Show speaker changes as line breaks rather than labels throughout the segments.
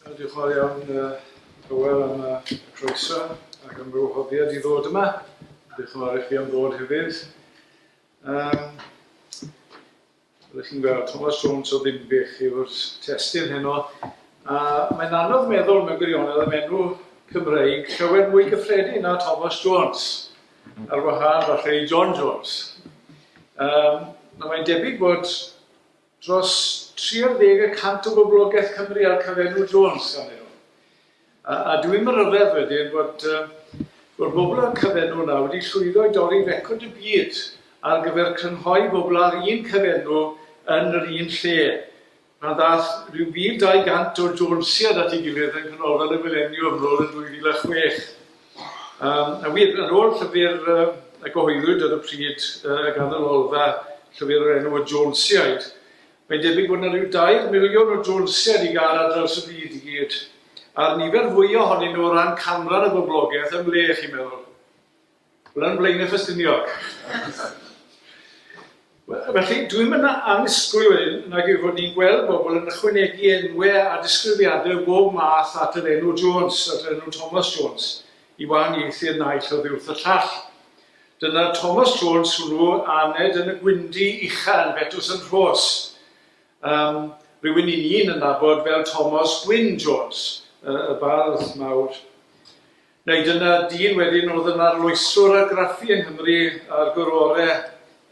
Diolch yn fawr iawn, Hywel, am y croeso ac am fy wahoddiad i ddod yma. Diolch yn fawr i chi am ddod hefyd. Um, Rydych chi'n gweld, Thomas Jones o Ddinbych yw'r testyn heno. A mae'n anodd meddwl mewn gwirionedd am enw Cymreig llawer mwy gyffredin na Thomas Jones. Ar wahân falle i John Jones. Um, na mae'n debyg bod dros 30 y cant o boblogaeth Cymru ar cyfenw Jones gan nhw. A, a dwi'n ryfedd wedyn bod, um, bod bobl ar cyfenw yna wedi llwyddo i dorri record y byd ar gyfer crynhoi bobl ar un cyfenw yn yr un lle. Mae yna ddaeth rhyw 1,200 o Jonesiaid at ei gilydd yng Nghanolfan y Mileniwm yn ôl yn 2006. Yym, a wir, ar ôl llyfr yy a gyhoeddwyd ar y pryd yy gan y Lolfa, llyfr o'r enw Y Jonesiaid, mae'n debyg bod yna rhyw dair miliwn o Jonesiaid i gael ar draws y byd i gyd, a'r nifer fwya ohonyn nhw o ran canran y boblogaeth, ym mhle, chi'n meddwl? Wel, yn Blaenau Ffestiniog. Felly, dwi'm yn annisgwyl wedyn nag yw fod ni'n gweld bobl yn ychwanegu enwau a disgrifiadau o bob math at yr enw Jones, at yr enw Thomas Jones, i wahaniaethu'r naill oddi wrth y llall. Dyna'r Thomas Jones hwnnw aned yn y gwyndi ucha yn Betws yn Rhos. Um, rhywun i ni'n yn nabod fel Thomas Gwyn Jones, y, y bardd mawr. Neu dyna dyn wedyn oedd yn arloeswr argraffu yng Nghymru ar gorore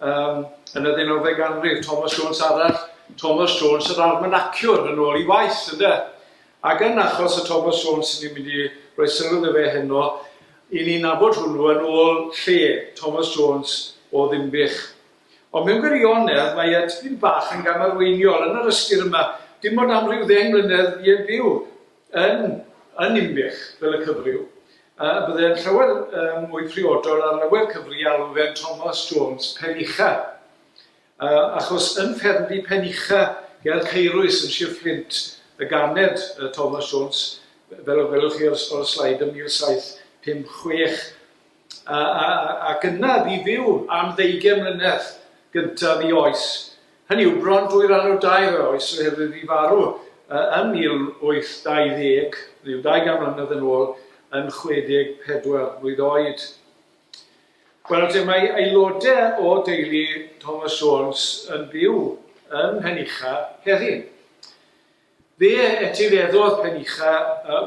um, yn y ddeunawfed ganrif, Thomas Jones arall, Thomas Jones yr armynaciwr yn ôl i waith, ynde? Ac yn achos y Thomas Jones sy'n ni'n mynd i roi sylw iddo fe heno, i ni'n nabod hwnnw yn ôl lle, Thomas Jones o Ddimbych. Ond mewn gwirionedd, mae e tipyn bach yn gamarweiniol yn yr ystyr yma, dim ond am ryw ddeng mlynedd i yn byw, Yn yn Ninbych, fel y cyfryw, y byddai'n llawer mwy priodol ar lawer cyfri alw fe'n Thomas Jones Penucha, achos yn ffermdy Penucha ger Caerwys yn Sir Fflint y ganed Thomas Jones, fel y gwelwch chi ar y sleid, yn 1756. a, a, ac yna i fyw am ddeugen mlynedd gyntaf i oes. Hynny yw bron dwy ran o dair o oes oherwydd i farw yn 1820, rhyw 200 mlynedd yn ôl, yn 64 mlwydd oed. Wel, te mae aelodau o deulu Thomas Jones yn byw yn Henicha heddi. Fe etifeddodd Penicha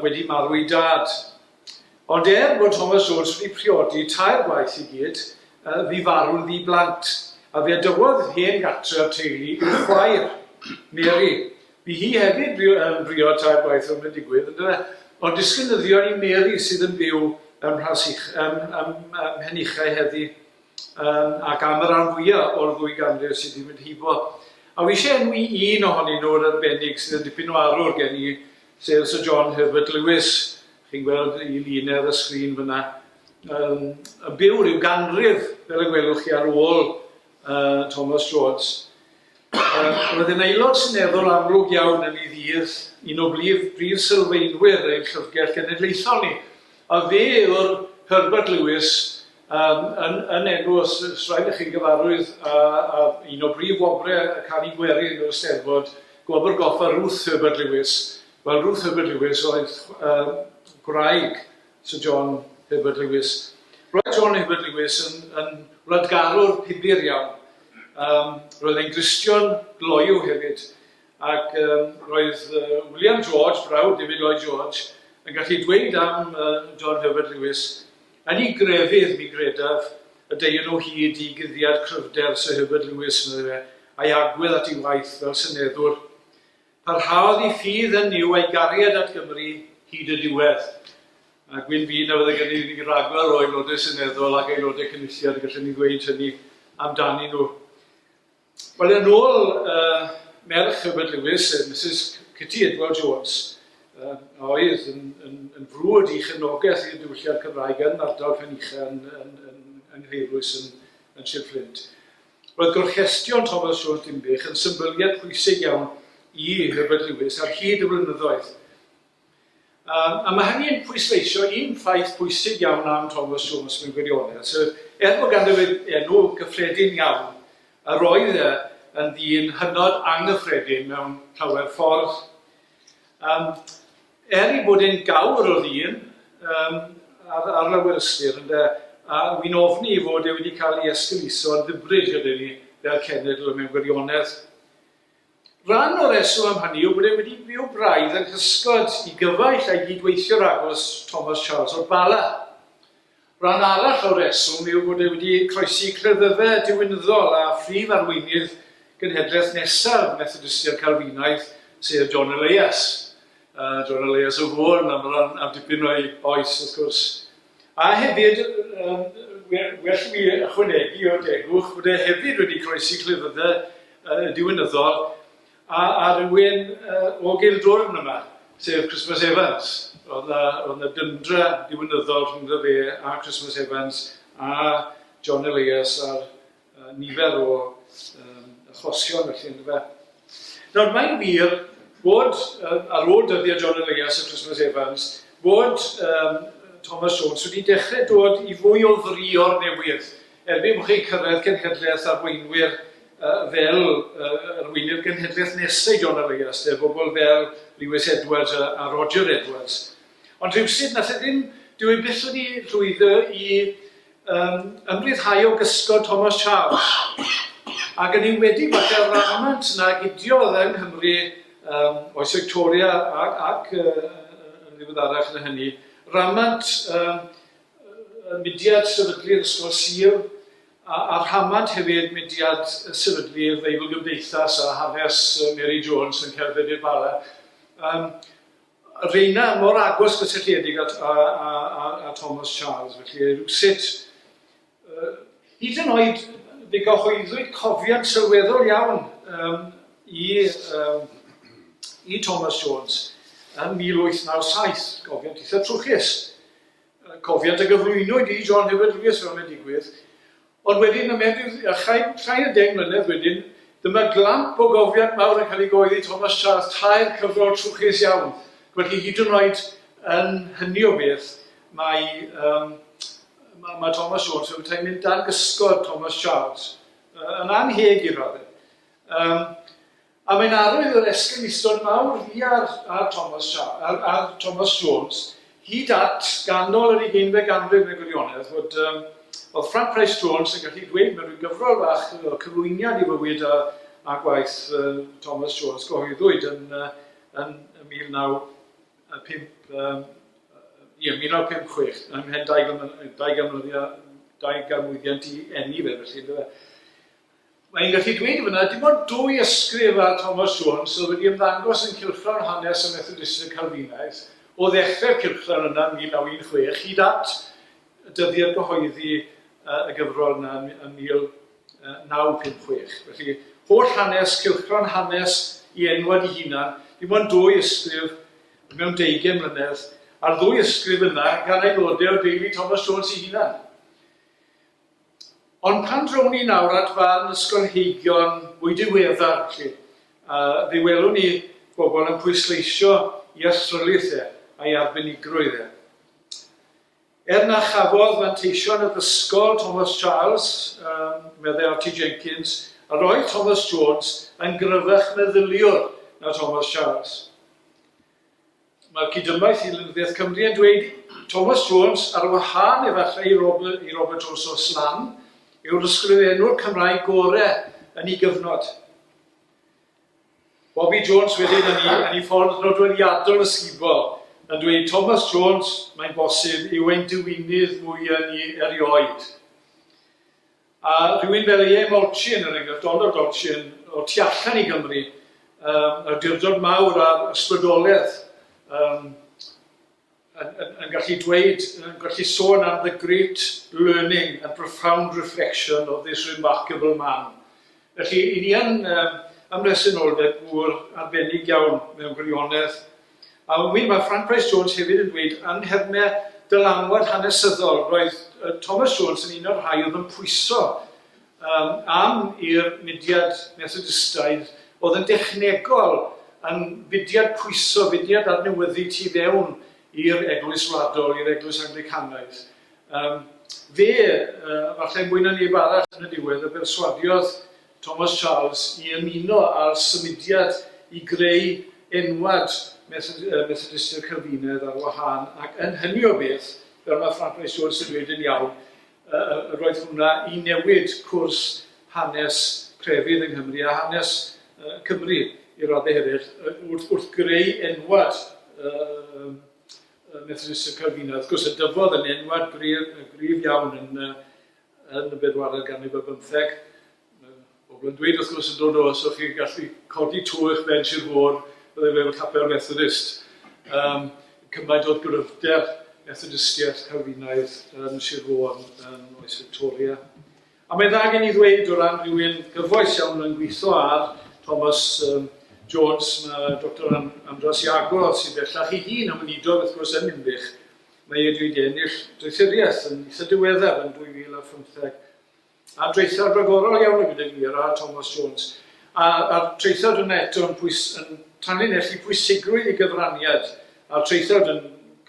wedi marw'i dad. Ond er bod Thomas Oates wedi priodi tair gwaith i gyd, bu farw'n ddi-blant, a fe dywodd hen gartref teulu i'w chwaer, Mary. Bu hi hefyd yn briod tair gwaith fel mae'n digwydd, yn dyfe? Ond disgynyddion i Mary sydd yn byw ym Mhenicha heddi. um, ac am y rhan fwyaf o'r ddwy ganrif sydd wedi mynd hibo. A wi eisiau enwi un ohonyn nhw'r arbennig sydd yn dipyn o arwr gen i, sef Sir John Herbert Lewis. Chi'n gweld i lun ar y sgrin fyna. Um, yn byw rhyw ganrif, fel y gwelwch chi ar ôl uh, Thomas George. Roedd yn aelod seneddol amlwg iawn yn ei ddydd, un o brif brif sylfaenwyr ein Llyfrgell Genedlaethol ni, a fe yw'r Herbert Lewis um, yn, yn enw, os, os rhaid i chi gyfarwydd, a, a un o brif wobrau y canu gwerin yr Eisteddfod, gwobr goffa Ruth Herbert Lewis. Wel, Ruth Herbert Lewis oedd uh, gwraig Sir John Herbert Lewis. Roedd John Herbert Lewis yn, yn wladgarwr pibir iawn. Um, roedd e'n Gristion gloyw hefyd. Ac um, roedd uh, William George, brawd David Lloyd George, yn gallu dweud am uh, John Herbert Lewis, yn ei grefydd mi gredaf y deion o hyd i guddiad cryfder Sir Herbert Lewis, meddai fe, a'i agwedd at ei waith fel syneddwr. Parhaodd i ffydd yn Nuw a'i gariad at Gymru hyd y diwedd. A gwyn fi na fydde gennyf i ragor o Aelodau Seneddol ac Aelodau Cynulliad y gallen ni ddweud hynny amdanyn nhw. Wel, yn ôl uh, merch Herbert Lewis, uh, Mrs Kitty Edward Jones, uh, a oedd yn, yn, yn frwd i chefnogaeth i'r diwylliad Cymraeg yn ardal Penycha yn, yn, yn, yn Ngheirwys yn, yn Sir Fflint. Roedd gorchestion Thomas Jones Dinbych yn symbyliad pwysig iawn i Herbert Lewis ar hyd y blynyddoedd. Um, a mae hynny'n pwysleisio un ffaith pwysig iawn am Thomas Jones mewn gwirionedd, sef er bod ganddo fe enw gyffredin iawn, a roedd e yn ddyn hynod anghyffredin mewn llawer ffordd. Um, Er ei bod e'n gawr o ddyn yym ar ar lawer ystyr ynde, a wi'n ofni ei fod e wedi cael ei esgeuluso'n ddybryd gyda ni fel cenedl mewn gwirionedd. Rhan o'r rheswm am hynny yw bod e wedi byw braidd yng nghysgod i gyfaill a'i gyd-weithiwr agos, Thomas Charles o'r Bala. Rhan arall o'r rheswm yw bod e wedi croesi cleddyfe diwinyddol a phrif arweinydd genhedlaeth nesaf Methodistiaid Calfinaidd, sef John Elias. A John Elias o Fôn am ran am dipyn o'i oes, wrth gwrs. A hefyd, um, well i mi ychwanegu o degwch bod e hefyd wedi croesi cleddyfe uh, diwinyddol A rhywun o Gildwrn yma, sef Christmas Evans. Roedd 'na, roedd 'na dyndra ddiwinyddol rhyngddo fe a Christmas Evans a John Elias ar nifer o achosion felly yndyfe. Nawr mae'n wir bod ar ôl dyddiau John Elias a Christmas Evans bod Thomas Jones wedi dechrau dod i fwy o frio'r newydd Erbyn bod chi'n cyrraedd cenhedlaeth arweinwyr fel arweinydd genhedlaeth nesau John Elias, de, bobl fel Lewis Edwards a Roger Edwards. Ond rhywsut nath e ddim, dyw e byth wedi llwyddo i um, ymryddhau o gysgod Thomas Charles. Ac yn enwedig falle o'r ramant na gidiodd yng Nghymru um, oes Victoria ac, ac uh, yn ddiweddarach na hynny, ramant um, y mudiad sefydlu'r ysgol Sul, a a rhamant hefyd mudiad sefydlu'r Feibl Gymdeithas a hanes Mary Jones yn cerdded i'r Bala. Um, reina mor agos gysylltiedig at, a, a, a, a Thomas Charles, felly rhywsut, uh, hyd yn oed fe gyhoeddwyd cofiant sylweddol iawn um, i, um, i Thomas Jones yn 1897, gofiant eitha trwchus. Cofiant a gyflwynwyd i John Hywel Lewis fel mae'n digwydd, ond wedyn y menyw a chaed llai na deng mlynedd wedyn, dyma glamp o gofiant mawr yn cael ei gyhoeddi, Thomas Charles, tair cyfrol trwchus iawn. Felly hyd yn oed yn hynny o beth, mae, um, mae, mae Thomas Jones yn petai mynd dan gysgod Thomas Charles, uh, yn anheg i radde. Um, A mae'n arwydd o'r esgyrn isod mawr fi a'r a'r Thomas Sha- a'r a'r Thomas Jones hyd at ganol yr ugeinfed ganrif yn y gwirionedd, fod yym o'dd Frank Pryce Jones yn gallu dweud mewn rhyw gyfrol fach o cyflwyniad i fywyd a a gwaith yy Thomas Jones gyhoeddwyd yn yy yn 1905 yym yy ie 1956 ym mhen dau ganmlynedd dau ganmlynedd dau ganmlwyddiant i eni fe felly yndyfe. Mae hi'n gallu dweud fana, dim ond dwy ysgrif ar Thomas Jones oedd wedi ymddangos yn cylchgrawn hanes y Methodistiaid Calfinaidd o ddechrau'r cylchgrawn yna yn 1916 hyd at y dyddiad gyhoeddi y gyfrol yna yn 1956. Felly, holl hanes, cylchgrawn hanes i enwad i hunan, dim ond dwy ysgrif mewn deugain mlynedd, a'r ddwy ysgrif yna gan aelodau o deulu Thomas Jones ei hunan. Ond pan drown ni nawr at farn ysgolheigion mwy diweddar, felly, a fe welwn ni bobl yn pwysleisio i athrylith e, a'i arbenigrwydd e. Er na chafodd fanteision addysgol Thomas Charles, um, meddai Archie Jenkins, a roedd Thomas Jones yn gryfach meddyliwr na Thomas Charles. Mae'r cyd-ymaith i Lenyddiaeth Cymru yn dweud, Thomas Jones, ar wahân efallai i Robert, i Robert Rosso Slan, yw'r ysgrifenwr Cymraeg gore yn ei gyfnod. Bobi Jones wedyn yn ei, yn ei ffordd nodweddiadol ysgubol yn dweud, Thomas Jones, mae'n bosib, yw ein diwinydd mwy yn ni erioed. A rhywun fel Aie Molchin, er enghraifft, Donald Olchin, o tu allan i Gymru, um, awdurdod mawr ar ysbrydoledd, um, yn, yn, yn gallu dweud, yn gallu sôn am the great learning and profound reflection of this remarkable man. Felly, i ni yn um, ymresynoldeb gŵr arbennig iawn mewn gwirionedd, A ŵyr, mae Ffranc Bryce Jones hefyd yn dweud, yn nhermau dylanwad hanesyddol, roedd Thomas Jones yn un o'r rhai oedd yn pwyso um, am i'r mudiad Methodistaidd, oedd yn dechnegol yn fudiad pwyso, fudiad adnewyddu tu fewn i'r eglwys wladol, i'r eglwys Anglicanaidd. Um, fe, uh, falle mwy na neb arall yn y diwedd, y berswadiodd Thomas Charles i ymuno â'r symudiad i greu enwad Methodistiaid Calfinaidd ar wahân, ac yn hynny o beth, fel mae Frank Rice Jones yn dweud yn iawn, yr oedd hwnna i newid cwrs hanes crefydd yng Nghymru a hanes Cymru i raddau hefyd, wrth greu enwad Methodistiaid Calfinaidd. Wrth gwrs, y dyfodd yn enwad gryf iawn yn yn y bedwaredd ganrif ar bymtheg. Mae pobl yn dweud wrth gwrs yn dod o, os o'ch chi'n gallu codi to eich bench i'r môr, byddai fe efo capel Methodist. Um, cymaint oedd gryfder Methodistiaeth Calfinaidd yn Sir Fôn yn oes Victoria. A mae'n dda gen i ddweud o ran rhywun gyfoes iawn yn gweithio ar Thomas um, Jones, mae Dr Andras Iago sy'n bellach ei hun yn weinidog wrth gwrs yn Ninbych, Mae ef wedi ennill doethuriaeth yn eitha' diweddar yn 2015, a draethawd ragorol iawn y gyda fi, yr Aa Tomos Jones, a a'r traethawd yna eto yn pwys- yn tanlinellu pwysigrwydd ei gyfraniad, a'r traethawd yn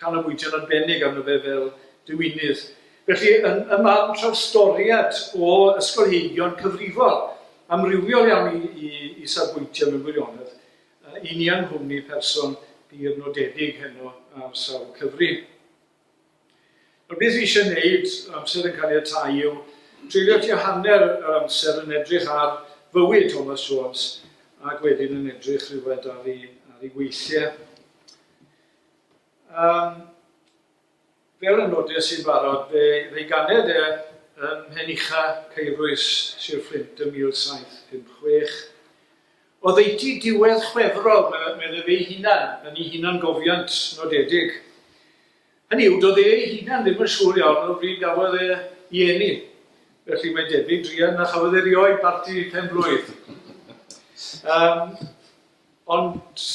canolbwyntio'n arbennig arno fe fel diwinydd. Felly, yn ym marn trawstoriad o ysgolheigion cyfrifol, amrywiol iawn i i i safbwyntiau mewn gwirionedd, A unian nghwmni person dir nodedig heno ar sawl cyfri. Nawr beth fi eisiau wneud, amser yn caniatáu, yw treulio tua hanner yr amser yn edrych ar fywyd Thomas Jones ac wedyn yn edrych rhywfaint ar ei, ar ei weithiau. Um, Fel y nodes i'n barod, fe ddeuganed e ym Mhenycha, Caerwys, Sir Fflint ym 1756. Oddeutu diwedd Chwefror, medd ef ei hunan, yn ei hunangofiant nodedig. Hynny yw, doedd e ei hunan ddim yn siŵr iawn o bryd gafodd e i eni, felly mae'n debyg druan na chafodd e rioed barti pen-blwydd. Ond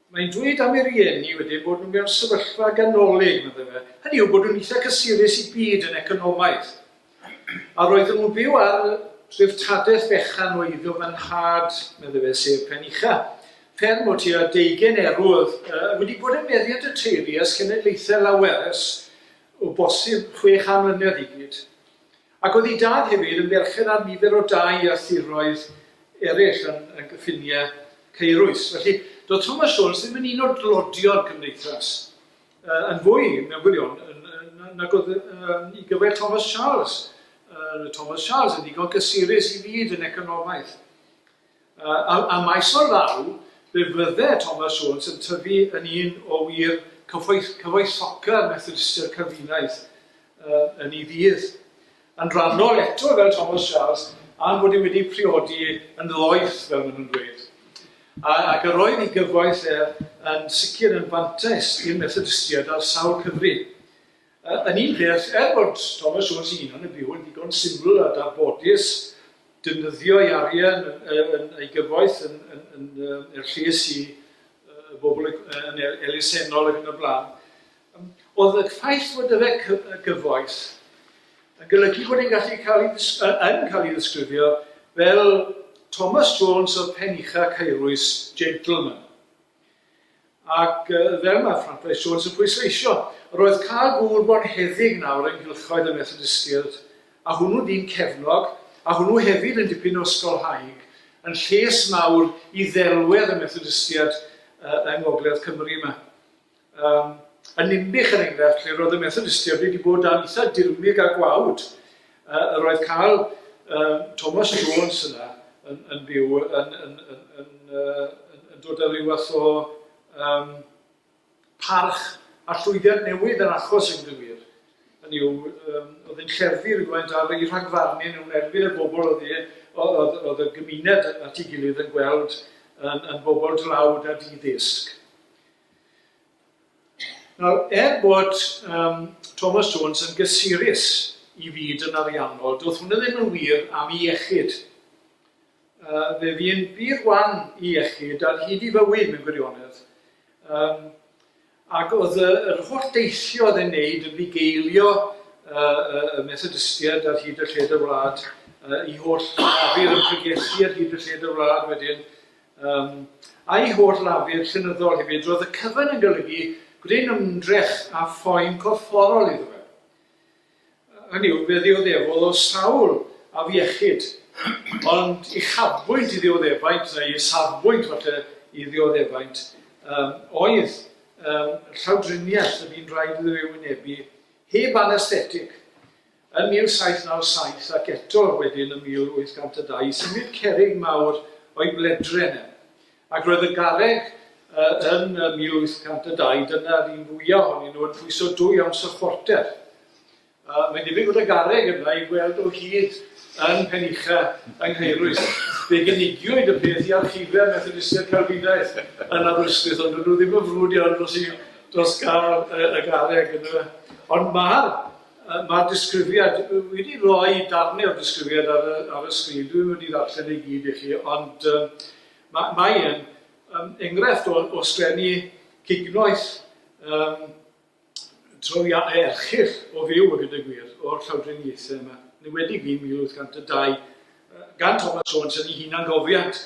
Mae'n dweud am ei rieni wedyn bod nhw mewn sefyllfa ganolig, medde fe, hynny yw bod nhw'n eitha cysurus i gyd yn economaidd. A roedden nhw'n byw ar dreftadaeth fechan o eiddo fy nhad, medde fe, sef Penucha, fferm o tua deugain erw oedd uh, wedi bod yn meddiant y teulu ers cenedlaethau lawer, ers o bosib chwe chan mlynedd i gyd. Ac oedd ei dad hefyd yn berchen ar nifer o dai a thiroedd eraill yn y cyffiniau caerus. Felly, doedd Thomas Jones ddim yn un o'r dlodio'r cymdeithas, yn fwy, mewn gwirion, nag oedd i gyfer Thomas Charles. Thomas Charles yn ddigon cysurus i fyd yn economaidd. Ym maes o law, fe fydde Thomas Jones yn tyfu yn un o wir cyfoethoca Methodistiaid Calfinaidd yn ei ddydd. Yn rhannol eto fel Thomas Charles, am fod e wedi priodi yn ddoeth, fel maen nhw'n dweud. Ac yr oedd ei gyfoeth e yn sicr yn fantais i'r Methodistiaid ar sawl cyfri. Yn un peth, er bod Thomas Jones ei hunan yn byw yn ddigon syml a darbodus, defnyddio'i arian yn ei gyfoeth, yn er lles i bobl, yn elusennol ac yn y blaen, oedd y ffaith fod dyddau cyfoeth yn golygu bod e'n gallu cael ei, yn cael ei ddisgrifio fel Thomas Jones o'r pen ucha' caerwys, gentleman. Ac fel mae Frances Jones yn pwysleisio, roedd cael gŵr bonheddig nawr yng nghylchoedd y Methodistiaid, a hwnnw dyn cefnog, a hwnnw hefyd yn dipyn o ysgolhaig, yn lles mawr i ddelwedd y Methodistiaid yng ngogledd Cymru yma. Yym, yn Ninbych, er enghraifft, lle roedd y Methodistiaid wedi bod dan eitha dirmyg a gwawd, yy, yr oedd cael yy, Thomas Jones yna yn, yn byw, yn, yn, yn, yn, uh, yn, yn dod â rhyw fath o um, parch a llwyddiant newydd yn achos yn gywir. Hynny yw, um, oedd yn lleddfu rhywfaint ar ei rhagfarnu nhw'n erbyn y bobl oedd, e, oedd, oedd y gymuned at ei gilydd yn gweld yn, yn bobl dlawd a di-ddisg. Nawr, er bod um, Thomas Jones yn gysurus i fyd yn ariannol, doedd hwnna ddim yn wir am i iechyd. Uh, fe fi'n byd wan i iechyd ar hyd i fywyd mewn gwirionedd. Um, ac oedd y, yr holl deithio oedd e'n neud yn bugeilio uh, y Methodistiaid ar hyd y lled y wlad, uh, i holl afur yn pregethu ar hyd y lled y wlad wedyn, Ym a'i holl lafur llenyddol hefyd, roedd y cyfan yn golygu gwneud ymdrech a phoen corfforol iddo fe. Hynny yw, fe ddioddefol o sawl afiechyd, ond uchafbwynt i ddioddefaint, neu isafbwynt falle i ddioddefaint, um, oedd um, llawdriniaeth y bu'n rhaid iddo ei wynebu heb anesthetig. Yn 1797 ac eto wedyn ym 1802 i symud cerrig mawr o'i bledren e. Ac roedd y garreg yn 1802, dyna'r un fwyaf ohonyn nhw, yn pwyso dwy awns o phorter. Uh, mae'n debyg bod y garreg yna i weld o hyd yn Penycha yng Nghaerwys. Fe gynigiwyd y peth i archifau Methodistiaid Calfinaidd yn Aberystwyth, ond nhw ddim yn frwd iawn dros, i, dros gael y, y garreg yna. Ond mae'r Mae'r disgrifiad, dwi wedi rhoi darnau o'r disgrifiad ar y, ar y sgrin, dwi ddim wedi ddarllen ei gyd i chi, ond um, mae, mae yn um, enghraifft o, o sglenni cignoeth um, troia erchyll o fyw y gyda gwir o'r llawdriniaethau yma, niwedig i 1802, gan Thomas Jones yn ei hunangofiant.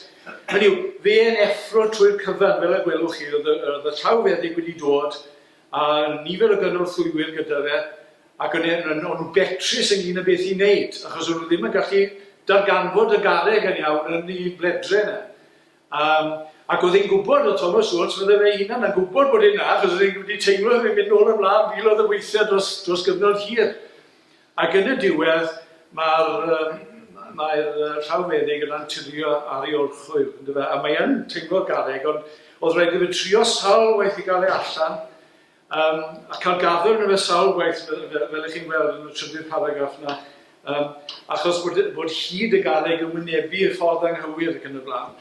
Hynny yw, fe yn effro trwy'r cyfan, fel y gwelwch chi, oedd y, oedd y llawfeddyg wedi dod, a nifer o gynorthwywyr gyda fe, ac yn, yn, yn, yn betrus ynglyn â beth i wneud, achos o'n nhw ddim yn gallu darganfod y garreg yn iawn yn ei bledre yna. Um, ac oedd e'n gwybod, oedd Thomas Jones, fydde fe hunan yn gwybod bod e'n na, achos oedd e'n wedi teimlo yn mynd nôl ymlaen filodd y weithiau dros, dros gyfnod hir. Ac yn y diwedd, mae'r mae'r llawfeddyg yn antuddio ar ei orchwyl, yndyfe, a mae yn teimlo'r garreg, ond oedd rhaid iddo fe trio sawl waith i gael e allan, um, a cael gaddo arno fe sawl gwaith, fel, fel ych chi'n gweld yn y trydydd paragraff yna, um, achos bod, bod hyd y garreg yn wynebu y ffordd anghywir ac yn y blaen.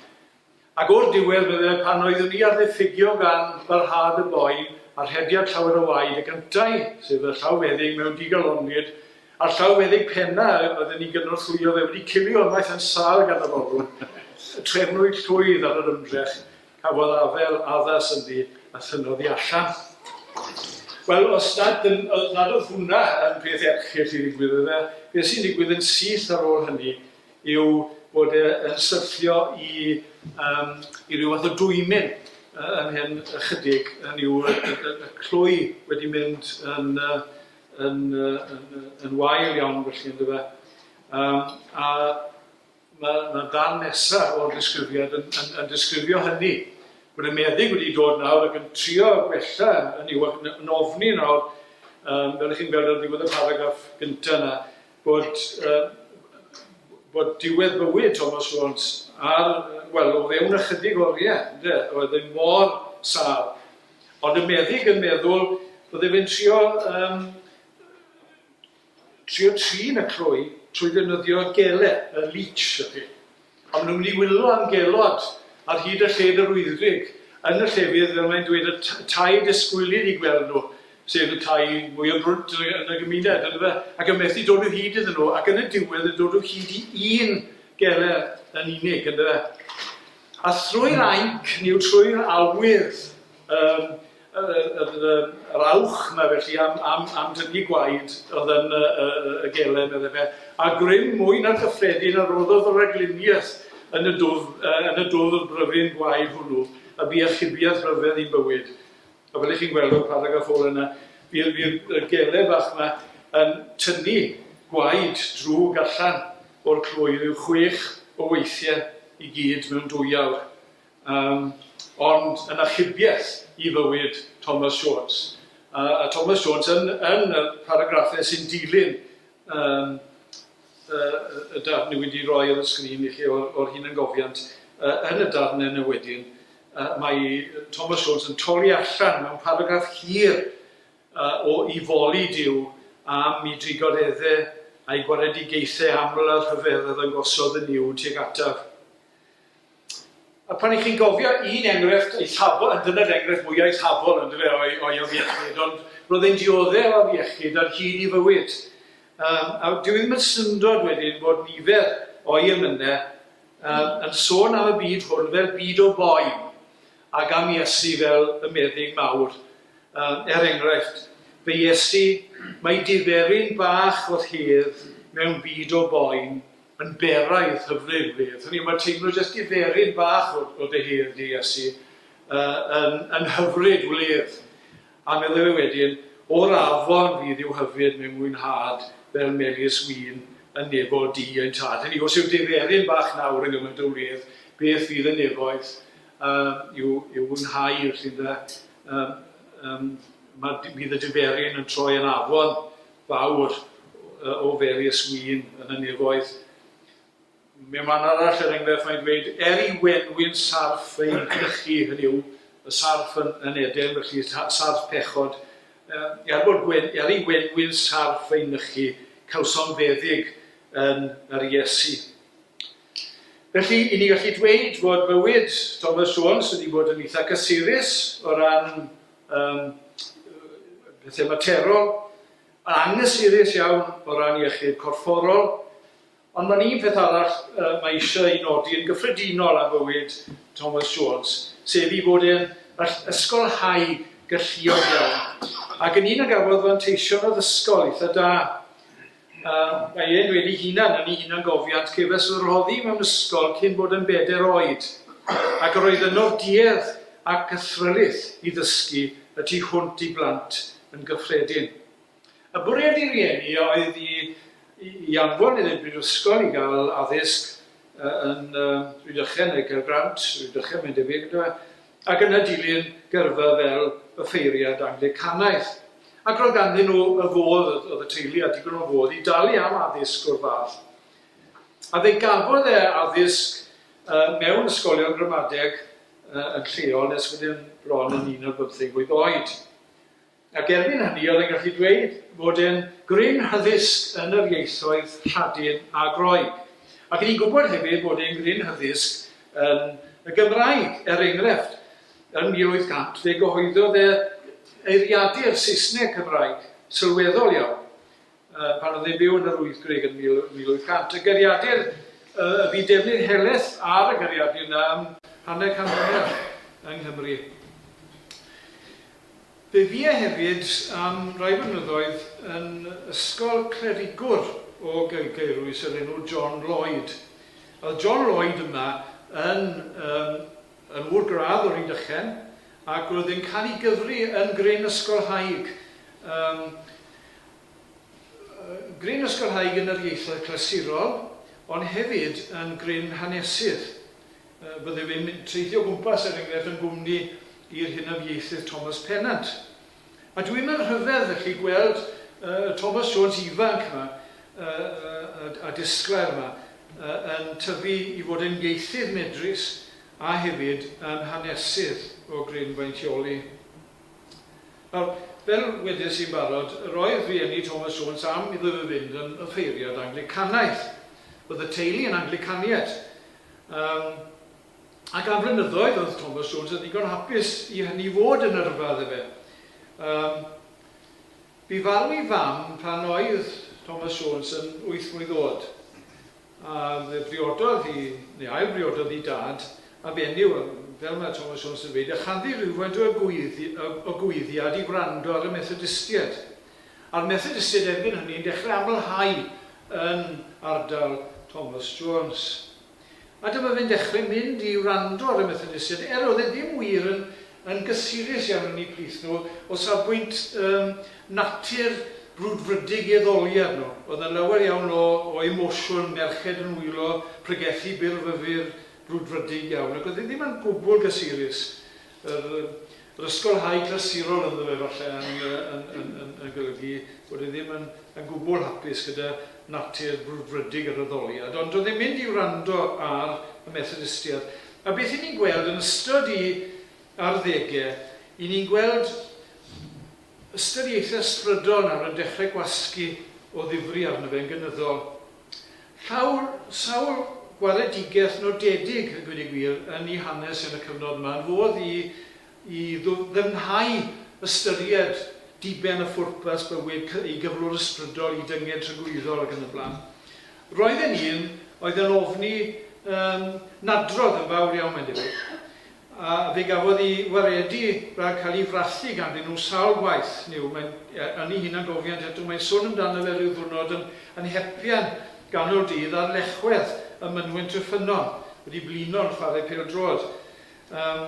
Ac o'r diwedd, medde, pan oeddwn i ar ddiffygio gan barhad y boi a rhediad llawer o waed, y gyntai, sef y llawfeddyg mewn digalonnid, a'r llawfeddyg penna oedd yn 'i gynorthwyo fe, wedi cilio ymaith yn sâl gan y forwr, trefnwyd llwydd ar yr ymdrech, cafodd afel addas ynddi, a thynnodd hi allan. Wel, os nad, os nad oedd hwnna yn peth erchyll i ddigwydd, medde, beth sy'n digwydd yn syth ar ôl hynny? yw bod e yn syrthio i yym i ryw fath o dwymyn yy yn hen ychydig, hynny yw y y y y clwy wedi mynd yn yy yn yy yn yy yn wael iawn felly yndyfe. Yym a ma' ma'r ddarn nesa o'r disgrifiad yn yn yn disgrifio hynny. Bod y meddyg wedi dod nawr ac yn trio gwella hynny yw ac yn yn ofni nawr yym fel 'ych chi'n gweld ar ddiwedd y paragraff gynta 'na bod bod diwedd bywyd Thomas Jones ar, wel, o fewn ychydig oriau, ynde, oedd e mor sâl. Ond y meddyg yn meddwl bydde fe'n trio, um, trio trin y clwy trwy ddefnyddio gele, y leech, y peth. A maen nhw'n mynd i wylo am gelod ar hyd y lled yr wyddgrug yn y llefydd, fel mae'n dweud, y tai disgwylid i gweld nhw, sef y tai mwyaf brwnt yn y gymuned, yndyfe? Ac yn methu dod o hyd iddyn nhw, ac yn y diwedd yn dod o hyd i un geler yn unig, yndyfe? A thrwy'r ainc, neu trwy'r awydd, um, yr awch 'na felly am, am, am dynnu gwaed oedd yn y, y, y gelen, meddai fe, a grym mwy na chyffredin a roddodd y ragluniaeth yn y dwf, uh, yn y dwf y bryfyn gwaed hwnnw, a bu achubiaeth rhyfedd i'n bywyd. A fel ych chi'n gweld o'r paragraff ôl yna, bydd y gele bach yma yn tynnu gwaed drwg allan o'r clwy rhyw chwech o weithiau i gyd mewn dwy awr. Yym, ond yn achubiaeth i fywyd Thomas Jones, a a Thomas Jones yn yn y paragraffau sy'n dilyn yym y y y darn dwi wedi roi ar y sgrin i chi o'r o'r hunangofiant, yy yn y darn yna wedyn, yy mae Thomas Jones yn torri allan mewn paragraff hir yy o 'i foli Duw am 'i drigoredde a'i gwaredigaethe aml a rhyfedd oedd yn gosod yn Nuw tuag ataf. A pan i chi'n gofio un enghraifft eithafol, a dyna'r enghraifft mwya eithafol on'd yfe o'i o'i afiechyd, ond roedd e'n diodde' o afiechyd ar hyd 'i fywyd. Yym a dyw 'i ddim yn syndod wedyn bod nifer o'i emynau yym yn sôn am y byd hwn fel byd o boen, ag am Iesu fel y meddyg mawr. Yym er enghraifft, fy Iesu, mae diferyn bach o rhydd mewn byd o boen yn beraidd hyfryd wir. Hynny yw, mae teimlo jyst diferyn bach o, o dy hedd di, Iesu, uh, yn, yn hyfryd wledd. A meddwl e wedyn, o'r afon fydd i'w hyfryd mewn mwynhad fel melys wyn yn nefoedd di ein tad. Hynny, os yw diferyn bach nawr yn gymaint o wledd, beth fydd y nefoedd uh, i'w, i'w fwynhau wrth iddo, um, um, mae, bydd y diferyn yn troi yn afon fawr o various win yn y nefoedd. Mae man arall er enghraifft mae'n dweud er i wenwyn sarff ein crychu, hynny yw, y sarff yn, yn Eden, felly sarff pechod, er, bod gwen, er i wenwyn sarff ei nychu, cawsom feddyg yn yr Iesu. Felly, i ni gallu dweud fod bywyd Thomas Jones wedi bod yn eitha cysurus o ran Yym, pethau materol, anghysurus iawn o ran iechyd corfforol, ond mae'n un peth arall mae eisiau ei nodi yn gyffredinol am fywyd Thomas Jones, sef ei fod e'n ysgolhaig galluog iawn, ac yn un a gafodd fanteision addysgol eitha' da. Mae e'n dweud ei hunan yn ei hunangofiant, Cefais fy rhoddi mewn ysgol cyn bod yn bedair oed, ac yr oedd yno'r duedd a'r cythrylith i ddysgu y tu hwnt i blant yn gyffredin. Y bwriad ei rieni a oedd i i anfon ef i'r brifysgol i gael addysg yn Rhydychen neu Caergrawnt, Rhydychen mae'n debyg, yndyfe, Ac yna dilyn gyrfa fel y ffeiriad Anglicanaidd. Ac roedd ganddyn nhw y fodd, oedd y teulu â digon o fodd i dalu am addysg o'r fath. A fe gafodd e addysg mewn ysgolion gramadeg yn lleol nes bod e'n bron yn un ar bymtheg mlwydd oed. Ac erbyn hynny oedd e'n gallu dweud fod e'n gryn hyddysg yn yr ieithoedd Lladin a Groeg. Ac o'n i'n gwybod hefyd fod e'n gryn hyddysg yn y Gymraeg, er enghraifft, yn 1800 fe gyhoeddodd e eiriadur Saesneg-Cymraeg sylweddol iawn. pan oedd e'n byw yn yr Wyddgrug yn 1800. Y Gariadur, y bu defnydd helaeth ar y Gariadur yna am hanner can mlynedd yng Nghymru. Fe fu e hefyd am rai blynyddoedd yn ysgol clerigwr o Gaerwys o'r enw John Lloyd. Oedd John Lloyd yma yn, um, yn ŵr gradd o'r Rhydychen ac roedd e'n cael ei gyfri yn gryn ysgolhaig. Um, Gryn ysgolhaig yn yr ieithoedd clasurol, ond hefyd yn gryn hanesydd. Byddwn i'n teithio o gwmpas, er enghraifft, yn gwmni i'r hunaf ieithydd Thomas Pennant. A dwi mewn rhyfedd, felly, gweld y Thomas Jones ifanc yma, a disglair yma, yn tyfu i fod yn ieithydd medrus a hefyd yn hanesydd o gryn faintioli. Nawr, fel wedes i'n barod, roedd rhieni Thomas Jones am iddo fe fynd yn offeiriad Anglicanaidd. Roedd y teulu yn Anglicanied. Yym, ac am flynyddoedd oedd Thomas Jones yn ddigon hapus i hynny fod yn yrfa iddo fe. Yym, bu farw ei fam pan oedd Thomas Jones yn wyth mlwydd oed. A fe briododd hi, neu ail-briododd hi dad, a benyw, a fel mae Thomas Jones yn dweud, ychaddu rhywfaint o egoiiddiad i wrando ar y Methodistiaid. A'r Methodistiaid erbyn hynny yn dechrau amlhau yn ardal Thomas Jones. A dyma fe'n dechrau mynd i wrando ar y Methodistiaid, er oedd e ddim wir yn Yn gysurus iawn yn eu plith nhw o safbwynt yym natur brwdfrydig ei ddoliad nhw. Oedd 'na lawer iawn o o emosiwn, merched yn wylo, pregethu bur fyfyr, brwdfrydig iawn. Ac oedd hi ddim yn gwbl gysurus. Yr yy yr ysgolhaig glasurol ynddo fe falle yn yy yn yn yn yn golygu bod e ddim yn yn gwbl hapus gyda natur brwdfrydig yr addoliad. Ond doedd e'n mynd i wrando ar y Methodistiaid. A beth 'yn ni'n gweld yn ystod i arddege, 'yn ni'n gweld ystod i eithr ysbrydol nawr yn dechrau gwasgu o ddifri arno fe yn gynyddol. Llaw sawl gwaredigeth nodedig, a gweud y gwir, yn i hanes yn y cyfnod yma, yn fodd i i ddyfnhau ystyried diben a phwrpas bywyd ei gyflwr ysbrydol, i dynged tragwyddol ac yn y blaen. Roedd e'n un oedd yn ofni yn nadrodd yn fawr iawn mae'n debyg, a fe gafodd i waredu rhag cael i frathu ganddyn nhw sawl gwaith, neu mae'n yn ei hunangofiant eto, mae'n sôn amdano fe ryw ddiwrnod yn yn hepian ganol dydd ar lechwedd ym mynwent y ffynnon, wedi blino'n chwarae pêl-droed. Yym,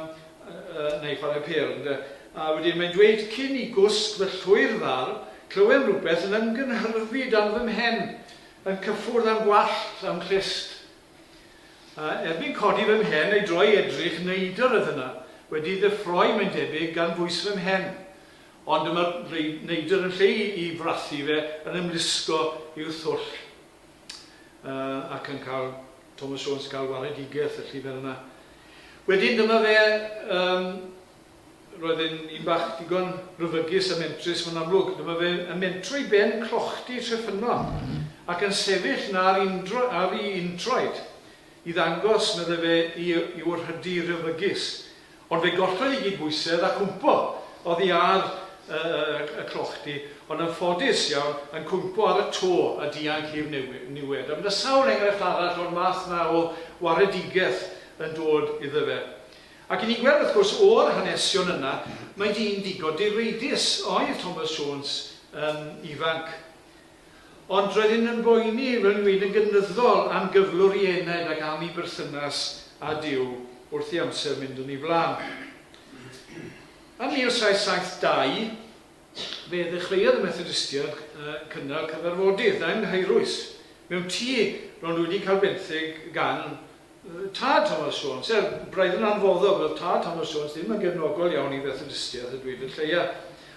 yy, neu chwarae pêl, ynde? A wedyn mae'n dweud, Cyn i gwsg fy llwyr ddal, clywem rywbeth yn ymgynhyrfu dan fy mhen, yn cyffwrdd â'm gwallt, a'm clust. A erbyn codi fy mhen a'i droi edrych, neidr oedd yna, wedi ddeffroi, mae'n debyg, gan bwys fy mhen. Ond dyma'r neidr yn lle i frathu fe, yn ymlusgo i'w thwll. yy ac yn cael Thomas Jones yn cael waredigaeth y llyfr yna. Wedyn dyma fe um, roedd e'n un bach digon ryfygus a mentrus mae'n amlwg. Dyma fe yn mentro i ben clochdy Treffynnon ac yn sefyll na ar, indro, ar ei introed i ddangos, medde fe, i, i wrhydu ryfygus Ond fe gollodd i gyd bwysedd a chwmpo oddi ar y clochdy, ond yn ffodus iawn yn cwympo ar y to a dianc i'r niwed. A byddai sawl enghraifft arall o'r math 'na o waredigaeth yn dod iddo fe. Ac i ni weld, wrth gwrs, o'r hanesion yna, mai dyn digon direidus oedd Thomas Jones yn ifanc. Ond roedd hyn yn boeni fy ngwin yn gynyddol am gyflwr i Ened ac am ei berthynas â Duw wrth i amser mynd yn ei flaen. Ym 1772, fe ddechreuodd y Methodistiaid cynnal cyfarfodydd yng Nghaerwys, mewn tŷ ro'n nhw wedi cael benthyg gan Tad Thomas Jones, er, braidd yn anfoddog, oedd tad Thomas Jones ddim yn gefnogol iawn i Fethodistiaeth, a dweud y lleia.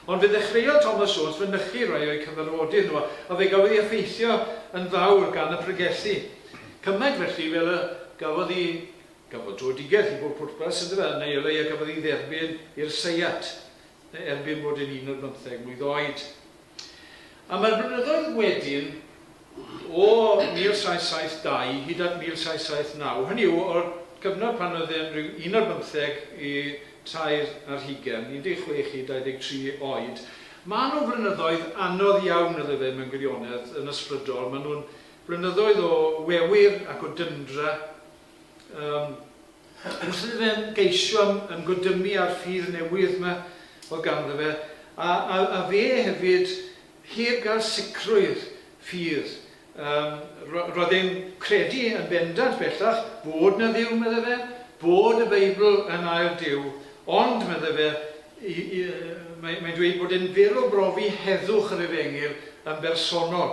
Ond fe ddechreuodd Thomas Jones fynychu rai o'u cyfarfodydd nhw, a fe gafodd ei effeithio yn fawr gan y pregethu. Cymaint felly fel y gafodd ei, gafodd drwedigaeth i bob pwrpas, yndyfe, a neu o leia gafodd ei dderbyn i'r seiat, erbyn bod e'n un ar bymtheg mlwydd oed. Am y blynyddoedd wedyn, o 1772 hyd at 1779, hynny yw, o'r cyfnod pan oedd e'n rhyw un ar bymtheg i tair ar hugain, 16 i 23 oed, maen nhw'n flynyddoedd anodd iawn, ydw i mewn gwirionedd, yn ysbrydol. Maen nhw'n flynyddoedd o wewyr ac o dyndra. Yym, yn sydd fe'n geisio ymgodymu â'r ffydd newydd 'ma o'dd ganddo fe, a a a fe hefyd, heb gael sicrwydd ffydd. Yym, ro- roedd e'n credu yn bendant bellach fod 'na Dduw, medde fe, bod y Beibl yn air Duw, ond, medde fe, i- i- yy mae mae'n dweud bod e'n fyr o brofi heddwch yr efengyl yn bersonol.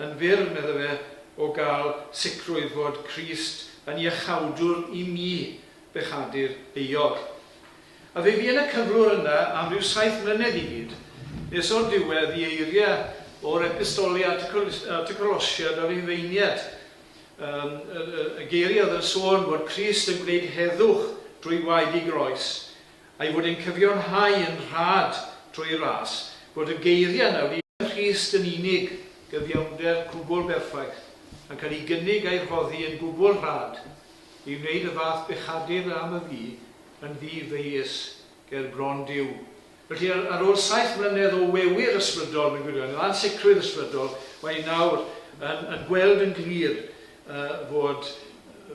yn fyr, medda fe, o gael sicrwydd fod Crist yn iachawdwr i mi, bechadur euog. A fe fu yn y cyflwr yna am ryw saith mlynedd i gyd, nes o'r diwedd i eiria o'r Epistoli at y Colosiad o Rufeiniad, um, y, y, y geiriau oedd yn sôn fod Crist yn gwneud heddwch drwy waed i groes, a'i fod e'n cyfiawnhau yn rhad trwy'r ras fod y geiriau yna wedi Yn nhrist yn unig, gyfiawnder cwbl berffaith yn cael ei gynnig a'i rhoddi yn gwbl rhad i wneud y fath bechadyn a am y fi yn ddi-ddeuys ger bron Duw. Felly, ar ar ôl saith mlynedd o wewyr ysbrydol, mae'n gwirionedd, o ansicrwydd ysbrydol, mae hi nawr yn yn gweld yn glir yy fod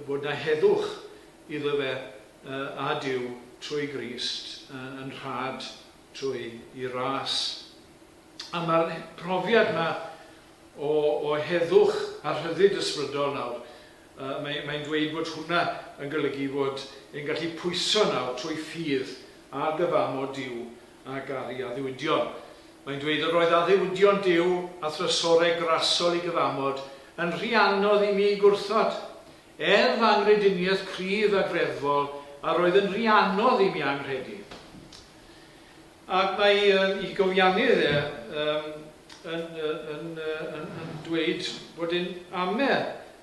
fod 'na heddwch iddo fe. A Duw, trwy Grist, yn rhad trwy 'i ras. A ma'r profiad 'ma o o heddwch a rhyddid ysbrydol nawr, yy mae mae'n dweud bod hwnna yn golygu fod e'n gallu pwyso nawr trwy ffydd a dyfamo Duw a garu addewidion. Mae'n dweud yr oedd addewidion Duw a thrysore grasol i gyfamod yn rhy anodd i mi gwrthod. Er fy anghrediniaeth cryf a greddfol yr oedd yn rhy anodd i mi anghredu. Ac mae um, i gofiannydd e um, yn, yn, yn, yn dweud bod yn ame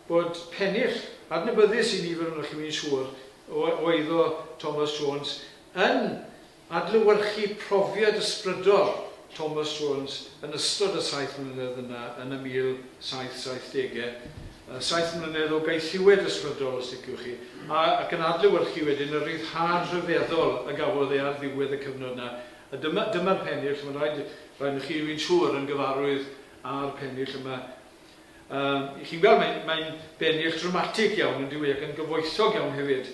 bod pennill adnabyddus i nifer onoch chi'n siŵr o, o eiddo Thomas Jones yn Adlewyrchu profiad ysbrydol Thomas Jones yn ystod y saith mlynedd yna yn y 1770au, saith mlynedd o gaethiwed ysbrydol os liciwch chi, a, ac yn adlewyrchu wedyn y rhyddhad rhyfeddol y gafodd e ar ddiwedd y cyfnod yna. A dyma, dyma'r pennill, ch'mod, rhaid, rhaid i chi, wi'n siŵr, yn gyfarwydd â'r pennill yma. Yym, chi'n gweld, mae'n, mae'n bennill dramatig iawn, yndyw i, ac yn gyfoethog iawn hefyd.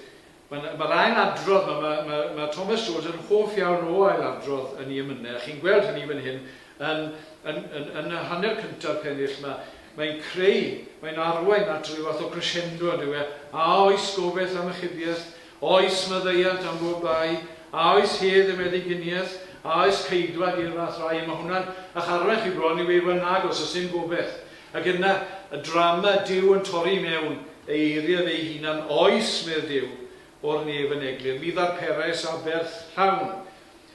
Mae'r mae'r ail adrodd 'ma, mae mae mae Thomas Jones yn hoff iawn o ail adrodd yn ei emynau, a chi'n gweld hynny fan hyn yn yn yn yn y hanner cynta'r pennill 'ma. Mae'n creu, mae'n arwain at ryw fath o crescendo yndyw e? A oes gofeth am ychybieth? Oes maddeuant am bob bai? A oes hedd i meddyginiaeth? A oes ceidwad i'r fath rai? Mae hwnna'n ych arwain chi bron i weud, wel nagos, oes dim gobeth. Ac yna, y drama, Duw yn torri i mewn, ei eiriau fe'i hunan, Oes, medd Duw, o'r nef yn eglur, mi ddarperais aberth llawn.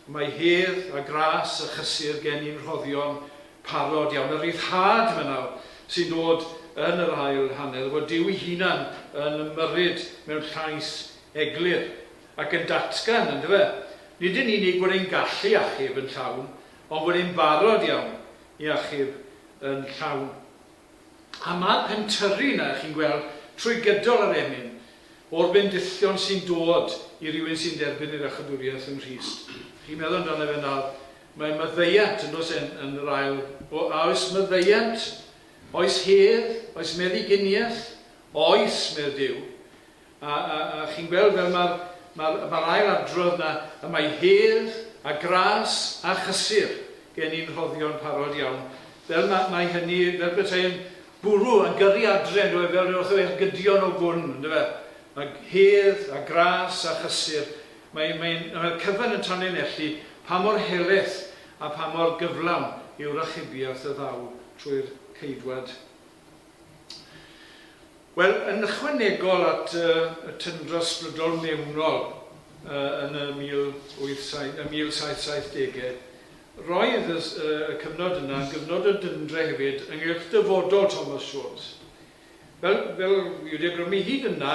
Mae hedd, a gras, a chysur gen i'n rhoddion parod iawn. Y rhyddhad yma nawr, sy'n dod yn yr ail hanner, fod Duw'i hunan yn ymyrryd mewn llais eglur, ac yn datgan, yndyfe, nid yn unig fod e'n gallu achub yn llawn, ond fod e'n barod iawn i achub yn llawn. A mae'r pentyrru yna, chi'n gweld, trwy gydol yr emyn, o'r bendithion sy'n dod i rywun sy'n derbyn yr Iachawdwriaeth yng Nghrist. Chi'n meddwl amdano fe nawr, mae maddeuant, yn does e, yn yr ail, o, a oes maddeuant, oes hedd, oes meddyginiaeth? Oes, medd Duw. A chi'n gweld fel mae'r mae'r mae'r ail adrodd 'na, y mae hedd, a gras, a chysur gen i'n rhoddion parod iawn. Fel mae mae hynny fel petai'n bwrw a gyrru adre yndyw e fel ryw fath o ergydion o gwn yndyw e? Mae hedd, a gras, a chysur mae mae'n mae'r cyfan yn tanlinellu pa mor heleth a pha mor gyflawn yw rachubiaeth y Dduw trwy'r ceidwad. Wel, yn ychwanegol at y tyndra sbrydol mewnol yn y 1770au, roedd y cyfnod yna yn gyfnod o dyndra hefyd ynghylch dyfodol Thomas Jones. Fel, fel fi wedi awgrymu hyd yna,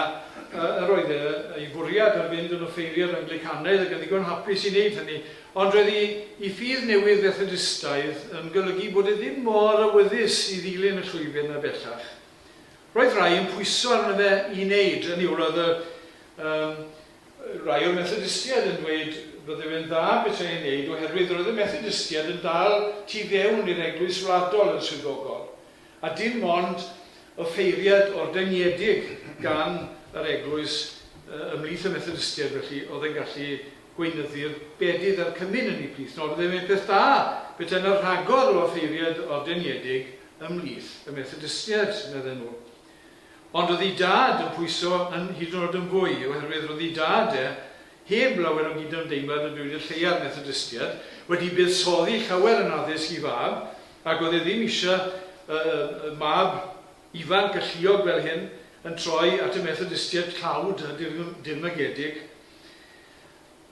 yr oedd e, ei fwriad yn mynd yn offeiriad Anglicanaidd ac yn ddigon hapus i wneud hynny, Ond roedd i i ffydd newydd Fethodistaidd yn golygu bod e ddim mor awyddus i ddilyn y llwybr 'na bellach. Roedd rhai yn pwyso arno fe i wneud, hynny yw, roedd y, yym, rhai o'r Methodistiaid yn dweud bydde fe'n dda petai e'n wneud oherwydd roedd y Methodistiaid yn dal tu fewn i'r Eglwys Wladol yn swyddogol, a dim ond offeiriad ordyngedig gan yr Eglwys ymhlith y Methodistiaid felly oedd yn gallu Gweinyddu'r bedydd a'r cymun yn 'i blith. Nod oedd e wneud peth da, petai 'na rhagor o offeiriaid ordeniedig ym mhlith y Methodistiaid, medden nhw. Ond roedd 'i dad yn pwyso yn hyd yn oed yn fwy, oherwydd roedd 'i dad e, heb lawer o gydymdeimlad â dweud y lleiaf Methodistiaid, wedi buddsoddi llawer yn addysg 'i fab, ac oedd e ddim eisiau y mab ifanc galluog fel hyn yn troi at y Methodistiaid tlawd a dirmygedig.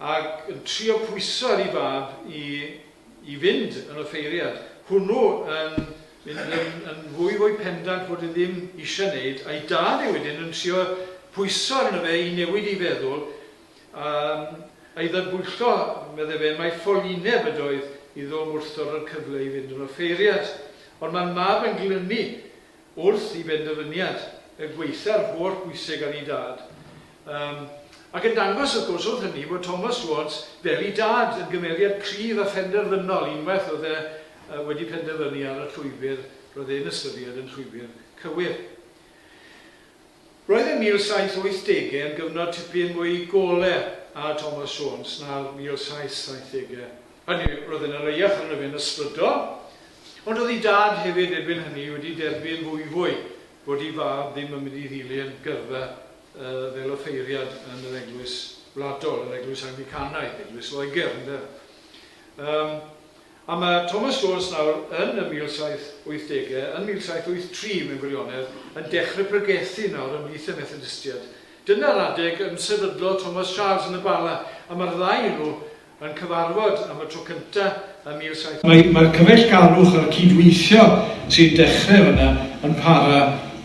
ac yn trio pwyso ar 'i fab i i fynd yn offeiriad, hwnnw yn mynd yn yn fwy fwy pendant fod e ddim eisiau 'neud, a'i dad e wedyn yn trio pwyso arno fe i newid ei feddwl, yym, a'i ddadbwyllo, medde fe, mai ffolineb ydoedd iddo wrthdoro'r cyfle i fynd yn offeiriad. Ond mae'r mab yn glynu wrth 'i benderfyniad, y gwaetha'r holl bwyseg ar 'i dad, Yym, ac yn dangos, wrth gwrs, oedd hynny, fod Thomas Rods, fel ei dad, yn gymeriad cryf a phenderfynol, unwaith oedd e wedi penderfynu ar y llwybr roedd e'n ystyried yn llwybr cywir. Roedd y 1780au yn gyfnod tipyn mwy gole ar Thomas Rods na'r 1770au. Hynny yw, roedd e'n areiach arno fe'n ysbrydol, ond oedd ei dad hefyd erbyn hynny wedi derbyn fwyfwy bod ei fab ddim yn mynd i ddilyn gyrfa fel offeiriad yn yr eglwys wladol, yr eglwys Anglicanaidd, eglwys Loegr, ynde? Um, a mae Thomas Jones nawr yn y 1780au, yn 1783 mewn gwirionedd, yn dechrau pregethu nawr ymlith y Methodistiaid. Dyna'r adeg yn sefydlo Thomas Charles yn y Bala, a mae'r ddau nhw yn cyfarfod am y tro cyntaf ym 1700. Mae'r cyfeillgarwch a'r cydweithio sy'n dechrau fan'na yn para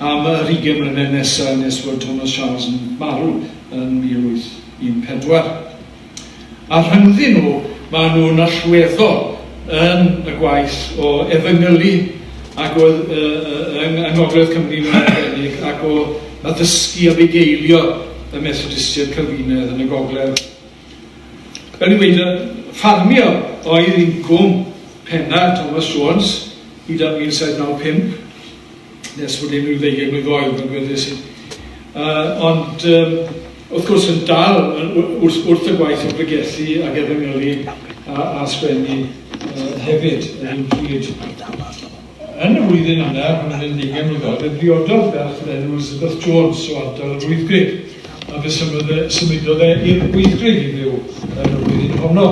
am yr ugain mlynedd nesaf nes fod Thomas Charles yn marw yn 1814. A rhyngddyn nhw, maen nhw'n allweddol yn y gwaith o efengylu ac o yng Ngogledd Cymru yn arbennig ac o addysgu a bugeilio y Methodistiaid Calfinaidd yn y Gogledd. Yn ymwneud â ffarmio, oedd incwm penna'r Thomas Jones hyd at 1795, nes bod e'n ryw ddeugain mlwydd oed, mae'n gweddus i. Uh, ond, um, wrth gwrs, yn dal wrth, wrth y gwaith o bregethu ac efengylu a, a sgwennu uh, hefyd, yn un pryd. Yn y flwyddyn yna, pan oedd e'n ddeugain mlwydd oed, fe briododd ferch o'r enw Elizabeth Jones o ardal yr Wyddgrug, a fe symudodd e i'r Wyddgrug i fyw yn y flwyddyn honno.